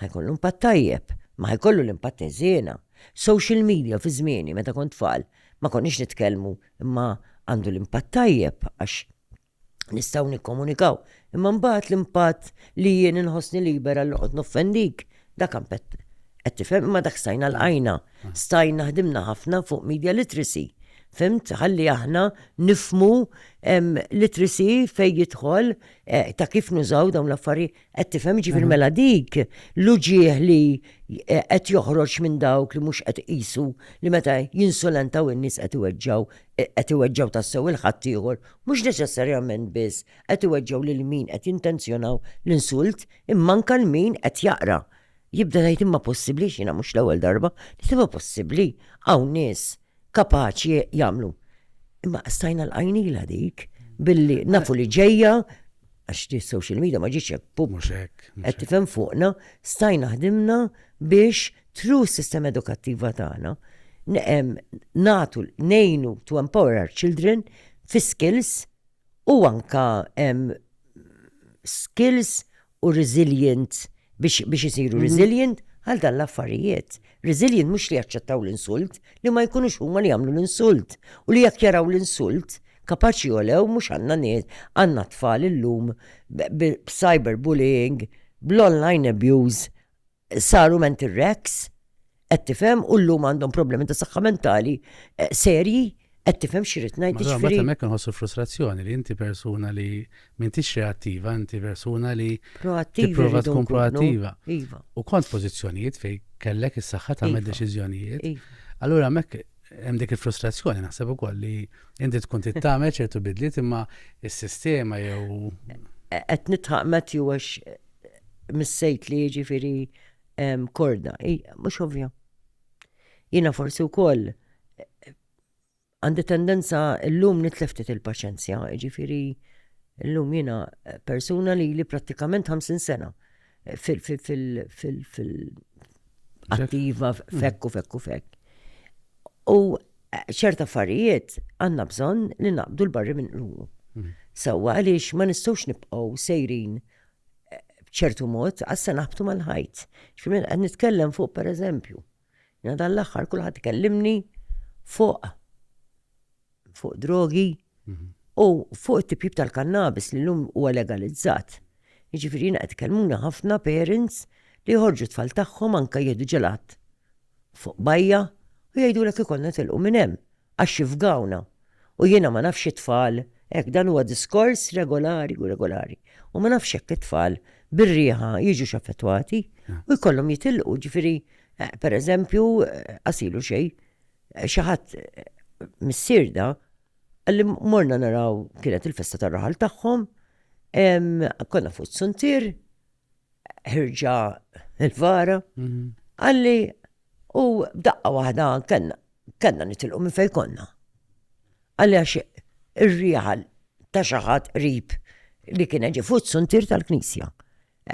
ħajkollu impatt tajjeb, ma ħajkollu l-impatt ħżiena. Social media fi żmieni meta kont tfal ma konniex nitkellmu imma għandu l-impatt tajjeb għax nistgħu nikkomunikaw. Imma mbagħad l-impatt li jien inħossni libera li noqgħod noffendik, dak ampett qed tifhem imma dak stajna l-għajna. Stajna ħdimna ħafna fuq media literacy. Fimt, ħalli aħna nifmu literacy fej jidħol eh, ta' kif nużaw dawn l-affarijiet. Qed tifhem ġifier mela dik l-uġieħ li eh, qed joħroġ minn dawk li mhux qed qisu li meta jinsulentaw in-nies qed iweġġaw eh, qed iweġġaw tassew il-ħadd ieħor, mhux neċessarjament biss qed iweġġaw lil min qed jintenzjonaw l-insult imma anke l-min qed jaqra. Jibda jgħid imma possibbli xina mhux l-ewwel darba, li imma possibbli hawn nies kapaċi jagħmlu. Imma stajna l-għajnila dik billi nafu li ġejja għax di social media ma ġiċ pub. Qed tifhem fuqna, stajna ħdimna biex tru sistema edukattiva tagħna natu nejnu to empower our children fi skills u anka skills u resilient biex biex isiru mhm. resilient għal dan l-affarijiet. Resilient mhux li jaċċettaw l-insult, li ma jkunux huma li jagħmlu l-insult u li jekk jaraw l-insult kapaċi jolew mhux għandna nies għandna tfal illum b'cyberbullying, bl-online abuse, saru mental wrecks, qed tifhem u llum għandhom problemi ta' saħħa mentali eh, serji, qed tifhem xi rid ngħid Meta jiġifieri. hemmhekk inħossu frustrazzjoni li inti persuna li m'intix reattiva, inti persuna li Proattivi tipprova rridu tkun nkunu. proattiva. Iva. U kont pożizzjonijiet fejn kellek is-saħħa tagħmel Iva. deċiżjonijiet. Iva. Allura hemmhekk hemm dik il-frustrazzjoni naħseb ukoll li inti tkun tittamel ċertu bidliet imma s-sistema jew Qed nitħaq Matthew għax missejt li jiġifieri korda, mhux ovvja. Jiena forsi wkoll għandi tendenza llum nitleftit il-paċenzja, jiġifieri llum jiena persuna li li prattikament 50 sena fil-attiva fekku fekku fekk. U ċert affarijiet għandna bżonn li naqbdu l-barri minn qlubu. Sewwa għaliex ma nistgħux nibqgħu sejrin b'ċertu mod, għas se naħbtu mal-ħajt. Ġifieri minn qed nitkellem fuq pereżempju. Jena dan l-aħħar kulħadd ikellimni fuq fuq drogi mhm. u fuq it-tipjib tal-kannabis li l-lum huwa legalizzat. Jiġifieri jiena qed tkellmuna ħafna parents li jħorġu tfal tagħhom anke jieħdu ġelat fuq bajja u jgħidulek ikollna nitilqu minn hemm għax jifgawna u jiena ma nafx it-tfal hekk dan huwa diskors regolari u regolari u ma nafx jekk it-tfal bir-riħa jiġux affettwati u jkollhom jitilqu ġifieri pereżempju qasilu xejn xi ħadd missier da qalli morna naraw kienet il-festa tar-raħal tagħhom konna fuq is-suntier ħirġa il-vara, għalli u daqqa waħda kena, kena nitilqu minn fej konna. Għalli għax ir-riħal ta' xaħat rib li kien ġi fuq suntir tal-knisja.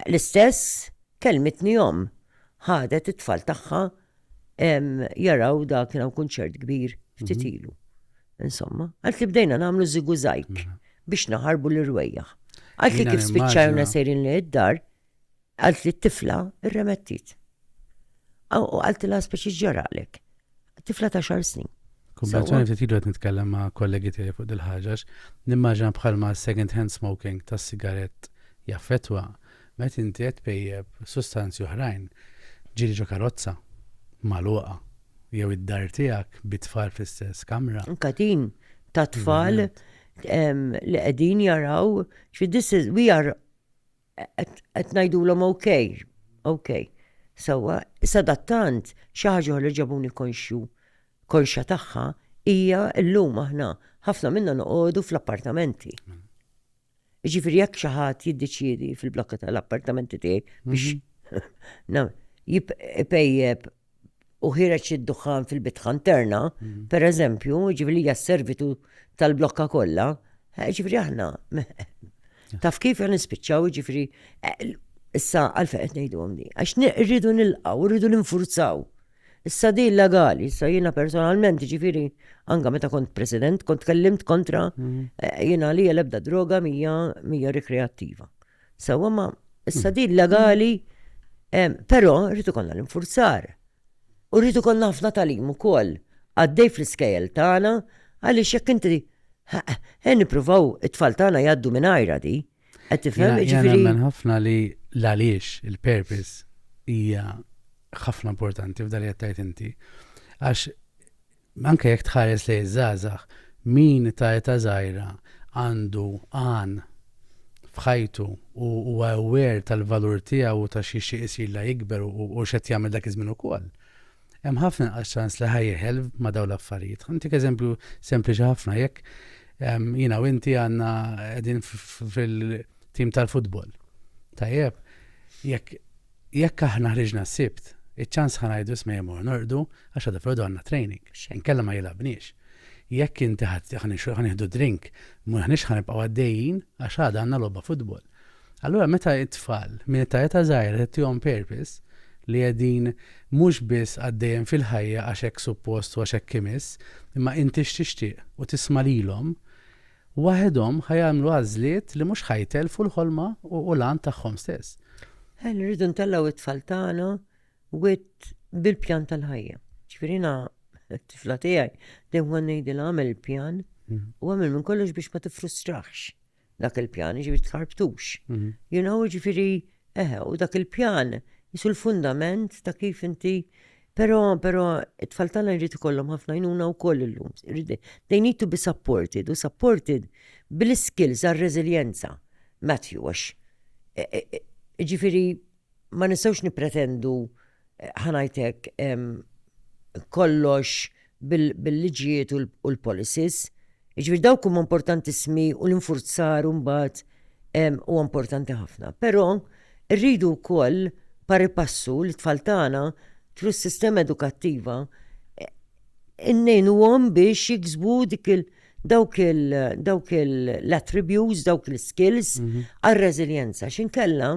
L-istess kelmitni jom ħadet it-tfal tagħha jaraw da kien hawn kunċert kbir ftit mhm. ilu. Insomma, għalt li bdejna nagħmlu zigu zajk mhm. biex naħarbu l-irwejjaħ. Għalt li kif spiċċajna sejrin li id-dar, għalt li t-tifla irremettit. U għalt la speċi ġaralek. Tifla ta' xar snin. Kumbazzjoni ftit ilu qed nitkellem ma' kollegi tiegħi fuq dil-ħaġax, nimmaġina bħalma second hand smoking tas-sigarett jaffetwa Meta inti qed tpejjep sustanzi oħrajn, ġieli ġo karozza magħluqa jew id-dar tiegħek bi tfal fl-istess kamra. Katin ta' tfal li qegħdin jaraw xi this is we are qed ngħidulhom okay, okay. Sewwa, sadattant xi ħaġa li ġabuni konxju konxa tagħha hija llum aħna ħafna minna noqogħdu fl-appartamenti. Jiġifieri jekk xi ħadd jiddeċiedi fil-blokka tal-appartamenti tiegħi biex mhm. jipejjeb u ħireġ id-duħħan fil-bitħa interna, mhm. per eżempju, ġifiri hija servitu tal-blokka kollha, eh, ġifiri aħna. Taf kif għan nispiċċaw ġifiri eh, issa għalfejn qed ngħidu għamdi. Għax rridu nilqgħu, rridu ninfurzaw. Issa din legali, issa jiena personalment, jiġifieri anka meta kont president, kont tkellimt kontra mhm. eh, jiena li l-ebda droga mija mija rikreattiva. Sewa ma issa din mhm. legali, eh, però rritu konna l-infurzar. U rritu konna ħafna talim ukoll għaddej fl-iskejjel tagħna għaliex jekk inti eh, nippruvaw it-tfal tagħna jgħaddu minn ajra di. Qed tifhem jiġifieri. Nemmen ħafna li l-għaliex il-purpose hija ħafna importanti f'dan li qed inti. Għax anke jekk tħares li żgħażagħ min ta' eta żgħira għandu għan f'ħajtu u huwa aware tal-valur tiegħu u ta' xi xi isir la jikber u x'qed jagħmel dak iż-żmien ukoll. hemm ħafna inqas ċans li ħajjeħel ma' dawn l-affarijiet. Ħantik eżempju sempliċi ħafna jekk jina u inti għanna għedin fil-tim tal-futbol. Tajjeb, jekk jekk aħna ħriġna s-sibt, iċ-ċans ħanajdu smejmu nordu għax għadha fil għanna training, nkella ma jilabniex. Jekk inti ħanixħu ħanihdu drink, muħnix ħanibqaw għaddejjin għax għadha għanna lobba futbol. Allura meta t-tfal minn età età żgħira tagħtihom purpose li qegħdin mhux biss għaddejjem fil-ħajja għax hekk suppost u għax hekk imiss, imma inti x'tixtieq u tisma' lilhom, waħedhom ħa jagħmlu għażliet li mhux ħa jtellfu l-ħolma u l-għan tagħhom stess. Ħen irridu ntellgħu t-tfal tagħna wit bil-pjan tal-ħajja. Ġifirina t-tifla tiegħi dejjem ngħidilha għamel il-pjan mhm. u għamel minn kollox biex ma tifrustrax. dak il-pjan, jiġifieri tħarbtux. Mhm. You know, jiġifieri eħe, u dak il-pjan jisu l-fundament ta' kif inti Pero, pero, it-tfal tagħna jrid ikollhom ħafna jnuna wkoll illum. They need to be supported u supported bil-skills għal-reżiljenza. Matthew, għax. E, e, e, ġifieri ma nistgħux nippretendu ħa ngħid hekk kollox bil-liġijiet u l-policies. Jiġifieri dawk huma importantissimi u l-infurzar mbagħad huwa importanti ħafna. Però rridu wkoll pari passu li tfal tagħna tru s-sistema edukattiva innejnuhom biex jiksbu dik il- dawk l-attributes, dawk l-skills mhm. għal-reżiljenza. Xinkella,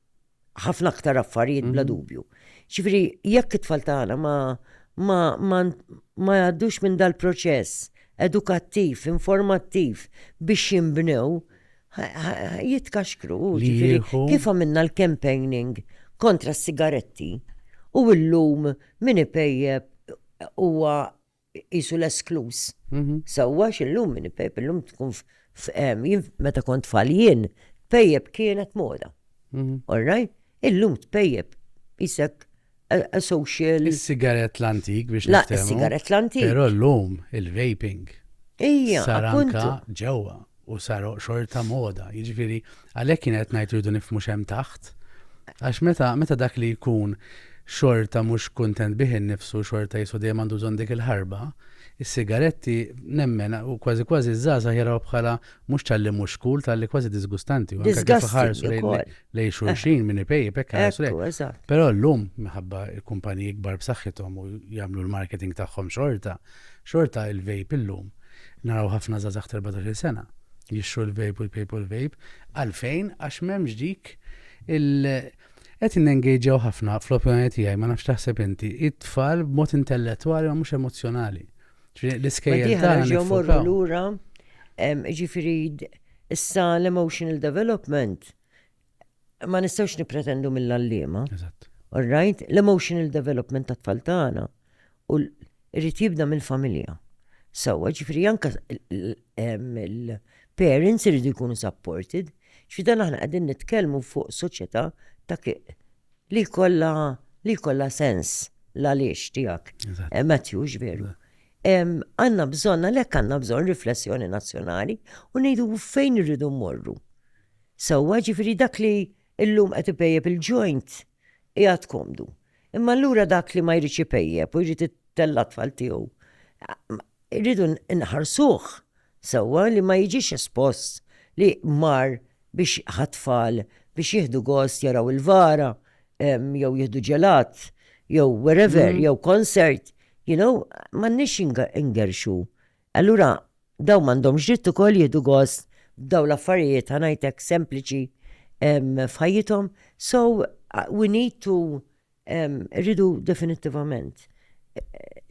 ħafna aktar affarijiet bla mhm. dubju. Ġifieri jekk it-tfal tagħna ma ma ma ma jgħaddux minn dal-proċess edukattiv, informattiv biex jimbnew, jitkaxkru, ġifiri, kif għamilna l-campaigning kontra s-sigaretti u l-lum min ipejjeb huwa qisu l-eskluż. Sewwa għax illum min ipejjeb illum tkun meta kont tfal jien, tpejjeb kienet moda. All right? Illum tpejjeb isek a social. Is-sigarett l-antik biex nifhem. Is-sigarett l-antik. Però llum il-vaping. Ija. Saranka ġewwa. u saru xorta moda. Jiġifieri għalhekk kien qed ngħid rridu nifhmu x'hemm taħt. Għax meta meta dak li jkun xorta mhux kuntent bih innifsu xorta jisu dejjem għandu bżonn dik il-ħarba, is-sigaretti nemmen u kważi kważi ż-żgħażagħ jaraw bħala mhux talli mhux cool talli kważi disgustanti. Lej xulxin minn ipejjeb hekk ħarsu Però llum minħabba l-kumpaniji kbar b'saħħithom u jagħmlu l-marketing tagħhom xorta. Xorta il-vape illum, naraw ħafna żgħażagħ ta' erbatax-il sena jixtru l-vape u jpejpu l-vape. Għalfejn? Għax m'hemmx dik il Qed nengejġjaw ħafna, fl-opinjoni tiegħi, ma nafx x'taħseb inti, it-tfal b'mod intellettwali ma mhux emozzjonali. Ġifieri l-iskejjel Diħa tagħna nerġgħu morru niffokaw. lura, em, ġifiri issa l-emotional development ma nistgħux nippretendu mill-għalliema. Eżatt. All right, l-emotional development ta' tfal tagħna u rrid jibda mill-familja. Sawa, ġifri anka il-parents irridu jkunu supported, ġifri dan aħna qegħdin nitkellmu fuq soċjetà ta' li kolla li kolla sens l-għaliex tiegħek. Eh, Matthew, veru. Għanna bżonna, lek għanna bżon riflessjoni nazzjonali u nejdu fejn irridu morru. sewwa, jiġifieri dak li llum qed ipejjep il-joint qiegħed komdu. Imma allura dak li ma jridx ipejjep u jrid itella' t-tfal tiegħu, irridu nħarsuh sewwa li ma jiġix espost li mar biex ħa t-tfal biex jieħdu gost jaraw il-vara jew jieħdu ġelat jew wherever jew concert, you know, m'għandniex ingerrxu Allura dawn m'għandhomx dritt ukoll jieħdu gost b'dawn l-affarijiet ħa ngħid hekk sempliċi f'ħajjithom. So we need to rridu definittivament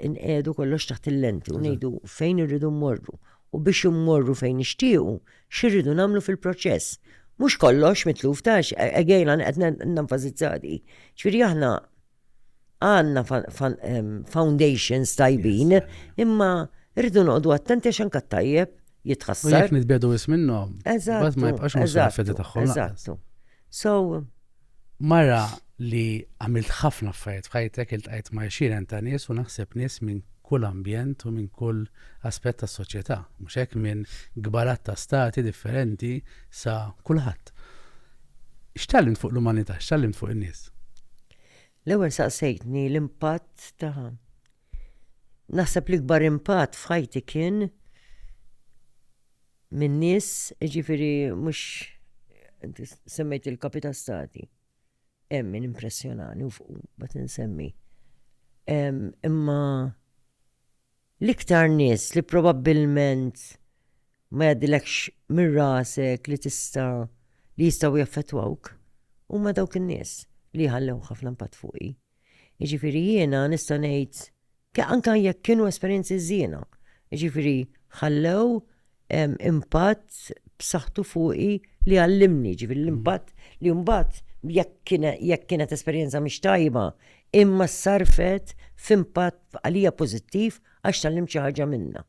inqiegħdu kollox taħt il-lenti u ngħidu fejn irridu mmorru u biex immorru fejn nixtiequ x'irridu nagħmlu fil-proċess. Mhux kollox mitluf tax, again għan qed nenfasizzadi. Ġifieri aħna Għandna foundations tajbin, imma rridu noqogħdu attenti għax anke t-tajjeb jitħassar. U jekk nitbiedu wis minnhom, bad ma jibqax mhux fedi tagħhom. Eżattu. So. Mara li għamilt ħafna affarijiet f'ħajtek il-tqajt ma' xiren ta' nies u naħseb nies minn kull ambjent u minn kull aspett tas soċjetà mhux hekk minn gbarat ta' stati differenti sa kulħadd. X'tgħallimt fuq l-umanità? X'tgħallimt fuq in-nies? L-ewwel saqsejtni l-impatt ta' naħseb l-ikbar impatt f'ħajti kien minn nies, ġifiri mhux semmejt il-kapita stati. Hemm min impressjonani u fuq bat insemmi. Imma L-iktar nies li probabbilment ma jgħaddilekx minn rasek li tista' li jistgħu jaffettwawk huma dawk in-nies li jħallew ħafna impatt fuqi. Jiġifieri jiena nista' ngħid anke jekk kienu esperjenzi żiena, jiġifieri ħallew impatt b'saħħtu fuqi li għallimni, ġifieri l-impatt li mbagħad jekk kienet esperjenza mhix tajba, imma ssarrfet f'impatt għalija pożittiv għax tgħallimt xi ħaġa minnha.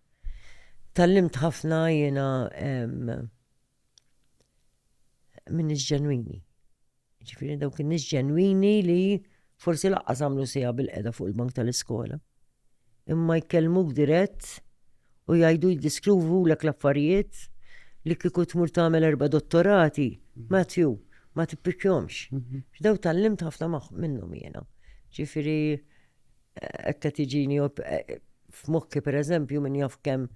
Tgħallimt ħafna jiena min-nies ġenwini. Jiġifieri dawk in-nies ġenwini li forsi laqqas għamlu siegħa bil-qeda fuq il-bank tal-iskola. Imma jkellmuk dirett u jgħidu jiddiskruvu l l-affarijiet li kieku tmur tagħmel erba' dottorati, Matthew, ma tippikjomx. Mhm. X'daw tal-limt ħafna minnhom jiena. Ġifieri Hekk qed iġini f'mokki pereżempju min jaf kemm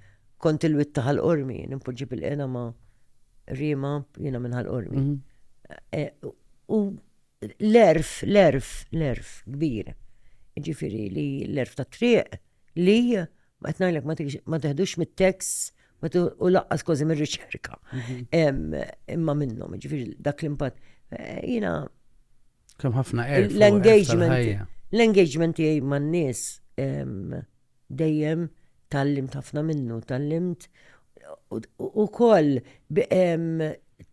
kont il-witt ta' Ħal Qormi, nimpoġġi bil-qena ma' rima jiena minn Ħal Qormi. E, u l-erf, l-erf, l-erf kbir. Ġifieri li l-erf ta' triq li ma qed ngħidlek ma teħdux mit-tekst u laqqas kważi mir-riċerka. Mhm. Imma minnhom, ġifieri dak l-impatt. E, jiena Kemm ħafna erf. L-engagement. L-engagement tiegħi man-nies dejjem tallimt ħafna minnu, tallimt u koll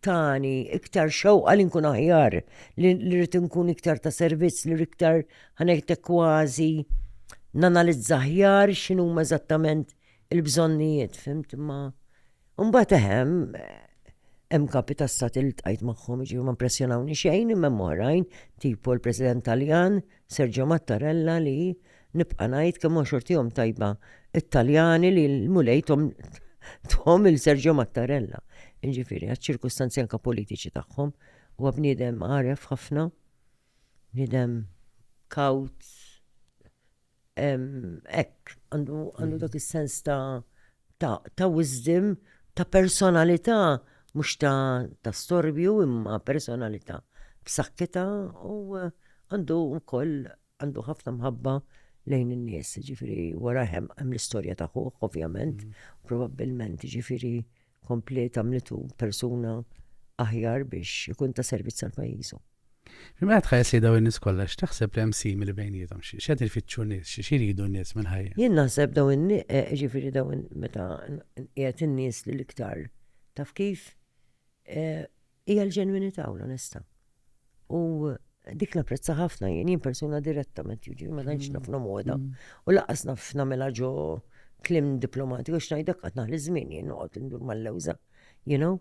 tani iktar xewqa li nkun aħjar, li rrit nkun iktar ta' servizz, li iktar ħanektek kważi nanalizza aħjar xinu ma' eżattament il-bżonnijiet, fimt ma' Mbagħad eħem, hemm kapi ta' stat li tqajt magħhom ġifieri ma impressjonawni xejn imma hemm oħrajn tipo l-President Taljan Sergio Mattarella li nibqa' ngħid kemm huwa xortihom tajba t-Taljani li l-Mulej thom thom lil Sergio Mattarella. Jiġifieri għaċ-ċirkustanzi anke politiċi tagħhom. Huwa bniedem għaref ħafna, bniedem kawt, Hekk, għandu dak is-sens ta' wisdom, ta' personalità mhux ta' storbju imma personalità b'saħħitha u għandu wkoll għandu ħafna mħabba lejn in-nies, jiġifieri wara hemm l-istorja ta' ħuh ovvjament, probabbilment jiġifieri kompliet għamlitu persuna aħjar biex ikun ta' servizz għal pajjiżu. Imma qed ħajja sejda u n-nies kollha x'taħseb li hemm simili bejniethom xi qed ifittxu nies xi xiridu n-nies minn ħajja. Jien naħseb daw in eh, ġifieri daw meta qiegħed in-nies li l-iktar taf kif eh, Hija l-ġenwinità u l-onestà. U dik napprezza ħafna jien, jien persuna direttament, jiġi ma tantx naf moda. Mm. U laqas naf nagħmilha ġo klim diplomatiku għax ngħidlek qatt naħli żmien jien noqgħod indur mal-lewża. You know?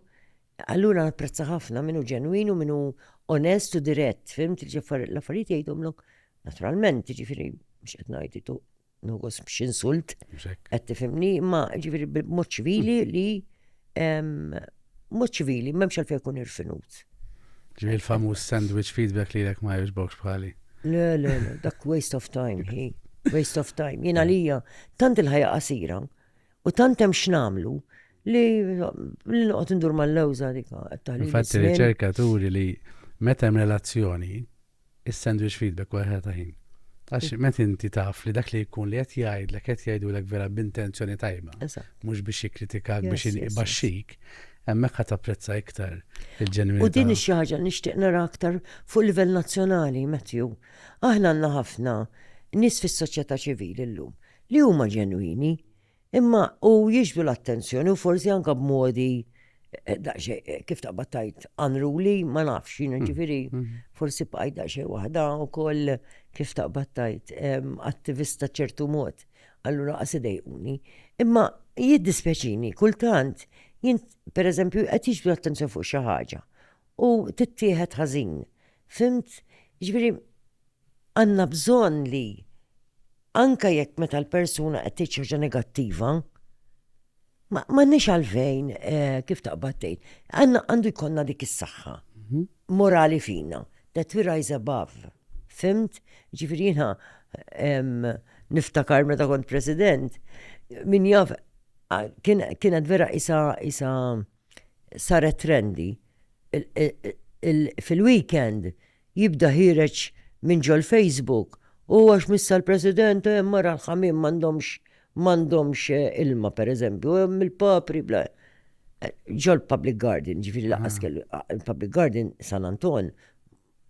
Allura napprezza ħafna minnu ġenwin u minnu onest u dirett, fim tiġi l-affarijiet jgħidhomlok naturalment, ġifieri mhux qed ngħid nogos biex insult, qed tifhimni, ma ġifieri b'mod ċivili hmm. li mod ċivili m'hemmx għal fejn ikun irfinut. Ġifieri il-famuż sandwich feedback li lek ma jogħġbokx bħali. Le, le, le, dak waste of time, hi. Waste of time. Jien għalija tant il-ħajja qasira u tant hemm x'namlu li li noqgħod indur mal-lewża dik qed taħli. Infatti riċerkaturi li meta hemm relazzjoni is-sandwich feedback wara ħela ta' ħin. Għax meta inti taf li dak li jkun li qed jgħidlek qed jgħidulek vera b'intenzjoni tajba, mhux biex jikkritikak biex ibaxxik, hemmhekk ħa tapprezza iktar il-ġenwinità. U din xi ħaġa nixtieq nara aktar fuq livell nazzjonali, Matthew. Aħna għandna ħafna nies fis-soċjetà ċivili llum li huma ġenwini, Imma u jixbdu l-attenzjoni u forsi anka b'modi eh, daqsxejn kif taqbad tajt unruly, ma nafx jiena mm. ġifieri mm. forsi bqajt daqsxejn waħda wkoll kif taqbad tajt attivista ċertu mod. Allura qas idejquni. Imma jiddispjaċini kultant jien pereżempju qed jiġbdu l-attenzjoni fuq xi ħaġa u tittieħed ħażin. Fimt, ġifieri għandna bżonn li anke jekk meta l-persuna qed tgħid xi ħaġa negattiva, m'għandniex għalfejn eh, kif taqbad tgħid, għandu jkollna dik is-saħħa mhm. morali fina, that we rise above. Fimt? Ġifieri jiena niftakar meta kont president, min jaf kienet vera isa isa saret trendi. Fil-weekend jibda ħireċ minn ġol Facebook u għax missa l-President u hemm mara l-ħamim m'għandhomx m'għandhomx eh, ilma per eżempju, hemm il-papri bla. Eh, ġol Public Garden, ġifiri laqas ah. kellu, ah, il-Public Garden San Anton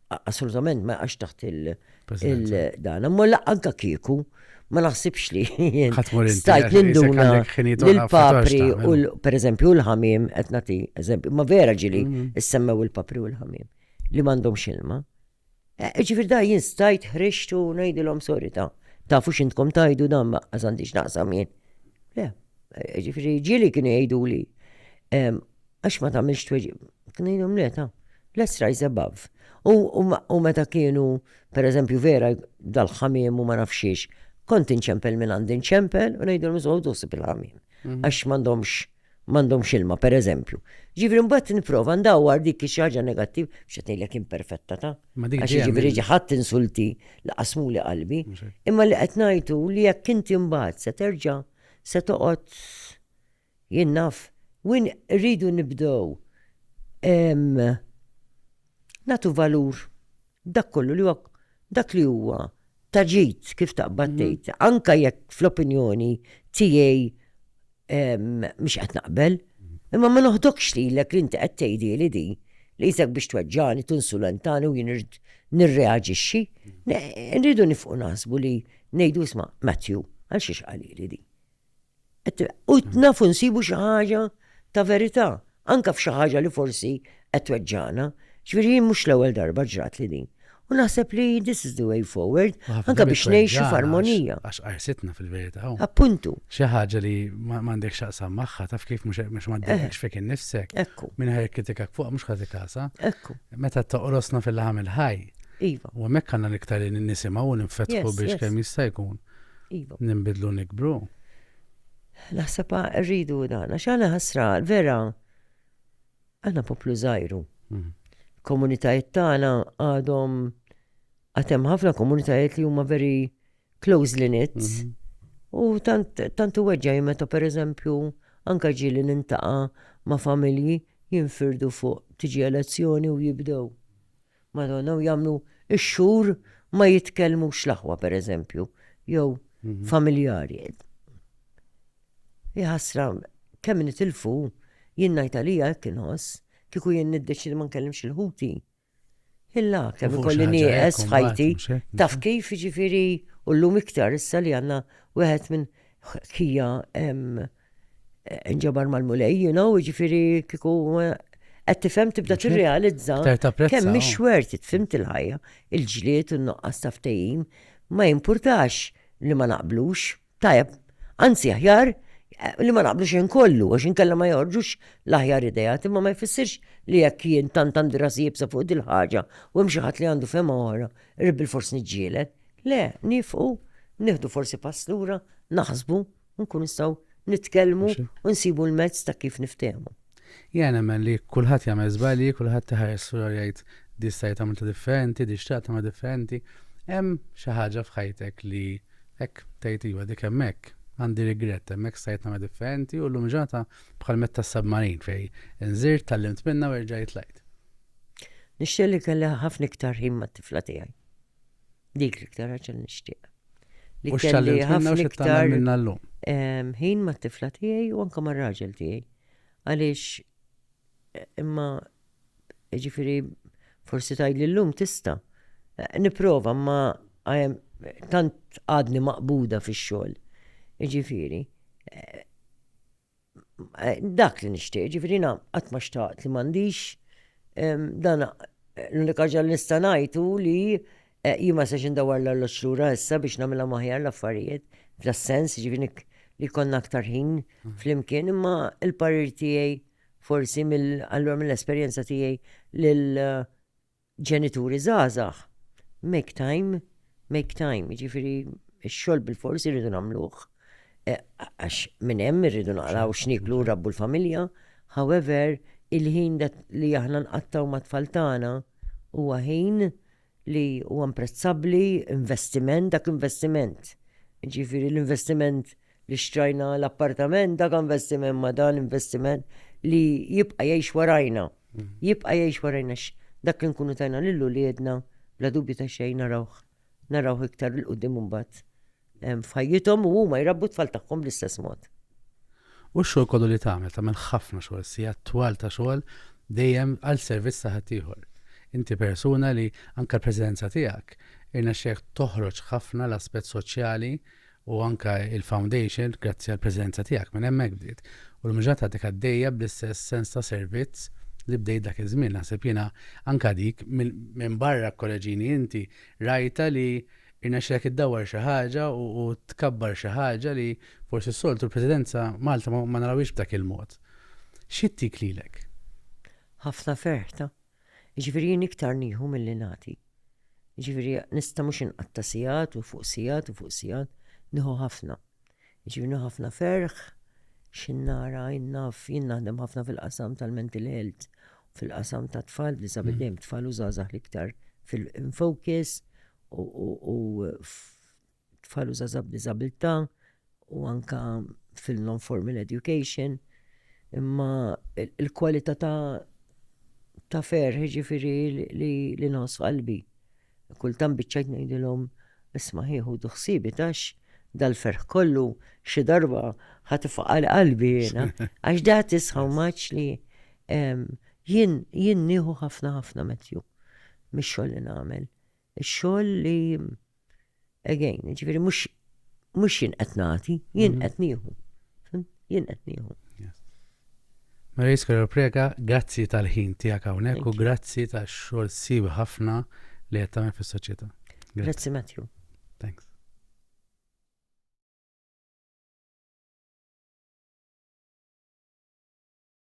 assolutament ma jaqax taħt il-dan. Imma anka kieku, ma naħsibx li stajt ninduna l-papri u per eżempju l-ħamim, qed nagħti eżempju, ma vera ġili mm-hmm. issemmew il-papri u l-ħamim li m'għandhom xilma. E, e, ġifir da jien stajt ħriġtu ngħidilhom sori ta' tafu x'intkom tajdu dan ma għażandix naqsam jien. Le, e, ġifiri ġili kien jgħidu li Għax ma tagħmilx tweġib. Kien ngħidhom le ta' let's rise above. U meta kienu, per eżempju, vera dal-ħamiem u ma nafxiex, kont inċempel minn għandi nċempel u ngħidhom iżgħu dosib il-ħamiem. Mhm. Għax m'għandhomx m'għandhomx ilma, per eżempju. Ġifri mbagħad nipprova ndawwar dik xi ħaġa negattiv biex qed ngħidlek imperfetta ta'. Għax ġifri ġaħat insulti li qasmuli qalbi. Imma li qed ngħidu li jekk inti mbagħad se terġa' se toqgħod Jien naf win irridu nibdew nagħtu valur dak kollu li huwa dak li huwa ta' ġid kif taqbad mhm. tgħid, anka jekk fl-opinjoni tiegħi mhux qed naqbel, mhm. imma ma noħdokx lilek li inti qed tgħidi li di li jisek biex tweġġani, tunsulentani u jien nirreagixxi, mhm. nridu nifqu naħsbu li ngħidu sma' Matthew, għal xiex qalili di. U nafu nsibu xi ħaġa ta' verità, anka f'xi ħaġa li forsi qed tweġġana. Ġifieri mhux l-ewwel darba ġrat li din. U naħseb li this is the way forward, anka biex ngħixu f'armonija. Għax qarsitna fil-verità. Appuntu. Xi ħaġa li m'għandek x'aqsam magħha, taf kif mhux m'għaddekx fik innifsek. Ekku. Min ħaj kritikak fuq mhux ħadd ikasa. Ekku. Meta toqrosna fil-laħam il-ħaj. Iva. U hemmhekk għandna l-iktar nisimgħu u ninfetħu biex kemm jista' jkun. Iva. Ninbidlu u nikbru. Naħseb rridu dan, għax għana ħasra, vera, għana poplu zaħiru. Mhm. Komunitajiet tagħna għadhom għatem ħafna komunitajiet li huma veri close knit. Mhm. U tant u weġġa meta per eżempju anka ġili nintaqa ma familji jinfirdu fuq tiġi elezzjoni u jibdew. Madonna u jagħmlu x-xhur ma jitkellmux l-aħwa pereżempju jew familjari. Iħassra kemm nitilfu jien ngħid għalija hekk inħoss kieku jien niddeċidi ma nkellimx il-ħuti. Illa kemm ikolli nieqes f'ħajti taf kif jiġifieri u llum iktar issa li għandna wieħed minn ħkija inġabar mal-mulej, you know, ġifiri kiku qed tifhem tibda tirrealizza kemm mhix xwert it-fimt il-ħajja, il-ġlied u n-nuqqas ta' ftehim ma jimpurtax li ma naqblux. Tajab, anzi aħjar li ma naqblux in kollu għax inkella ma joħorġux l-aħjar idea, imma ma jfissirx li jekk jien tant għandi rasi jibsa fuq dil-ħaġa u hemm xi ħadd li għandu fema oħra, irrid bil-fors niġġieled. Le, nifqu, nieħdu forsi pass lura, naħsbu, nkun nistgħu nitkellmu u nsibu l-mezz ta' kif niftehmu. Jien nemmen li kulħadd jagħmel żbalji, kulħadd iħares f'ruħu jgħid di stajt għamilta differenti, di xtaqt nagħmilha differenti. Hemm xi ħaġa f'ħajtek li hekk tgħid iva dik hemmhekk għandi rigrett hemmhekk stajt nagħmel differenti u llum ġata bħal metta submarin fej inżirt tallimt minna u rġajt lajt. Nixxelli kelli ħafna iktar ħin mat-tifla tiegħi. Dik l-iktar ħaġa li nixtieq. Li kelli ħafna iktar minna l-lum. Ħin ma' tifla tiegħi u anka ma' raġel tiegħi. Għaliex eh, imma ġifiri forsi tajt li l-lum tista. Eh, niprofa ma tant għadni maqbuda fi xogħol. Ġifiri. Eh, Dak li nixtieq, ġifieri na qatt ma xtaqt li m'għandix dan l-unika ħaġa li nista' ngħid hu li eh, jien ma sex indawar l-alloġġ lura issa biex nagħmilha maħjar l-affarijiet f'das sens ġifieri li konna aktar ħin mm. flimkien imma il-parir tiegħi forsi mill-allura mill-esperjenza tiegħi lil eh, ġenituri żgħażagħ, make time, make time, jiġifieri x-xogħol bil-forsi rridu nagħmluh. Eh, għax minn hemm irridu naqraw x'niklu rabbu l-familja, however, il-ħin li aħna nqattaw ma' tfal tagħna huwa ħin li huwa imprezzabbli investiment dak investiment. Ġifieri l-investiment li xtrajna l-appartament dak investiment ma dan investiment li jibqa' jgħix warajna. Mm. Jibqa' jgħix warajna dak li nkunu tajna lil uliedna bla dubju ta' xejn narawh narawh iktar il qudiem imbagħad f'ħajjithom u huma jrabbu tfal tagħhom bl-istess mod. U x-xogħol kollu li tagħmel, tagħmel ħafna xogħol, sija twal ta' xogħol dejjem għal servizz ta' ħaddieħor. Inti persuna li anke l-preżenza tiegħek irnexxek toħroġ ħafna l-aspett soċjali u anke il-Foundation, grazzi għall-preżenza tiegħek, minn hemmhekk bdiet. U l-mġarrad għadek għaddejja bl-istess sens ta' servizz li bdejt dak iż-żmien. Naħseb jiena anke dik minn barra kkoreġini inti, rajtha li rnexxielek iddawwar xi ħaġa u tkabbar xi ħaġa li forsi s-soltu l-Presidenza Malta ma narawhiex b'dak il-mod. X'jittik lilek? Ħafna ferħ ta'. Jiġifieri jien iktar nieħu milli nagħti. Jiġifieri nista' mhux inqatta' sigħat u fuq sigħat u fuq sigħat, nieħu ħafna. Jiġifieri nieħu ħafna ferħ x'in nara, jien naf, jien naħdem ħafna fil-qasam tal-mental health, fil-qasam tat-tfal b'diżabilità, dejjem tfal u żgħażagħ l-iktar fil-in focus u tfal u żgħażagħ b'diżabilità u anke fil-non-formal education, imma il-kwalità ta' ta' fer, ġifiri li, li nħoss qalbi. Kultant biċċajt ngħidilhom isma' ħieħu duħsibi tax dal-ferħ kollu xi darba ħat ifaqal qalbi jiena. Għax da tisħaw maċ li jien jien nieħu ħafna ħafna metju mix-xogħol li nagħmel. Ix-xogħol li Again, ġifieri mhux mhux jien qed nagħti, jien mhm. qed nieħu. Jien qed nieħu. Maria Iskola Prega, grazzi tal-ħin tiegħek hawnhekk u grazzi tax-xogħol sib ħafna li qed tagħmel fis-soċjetà. Grazzi Matthew. Thanks.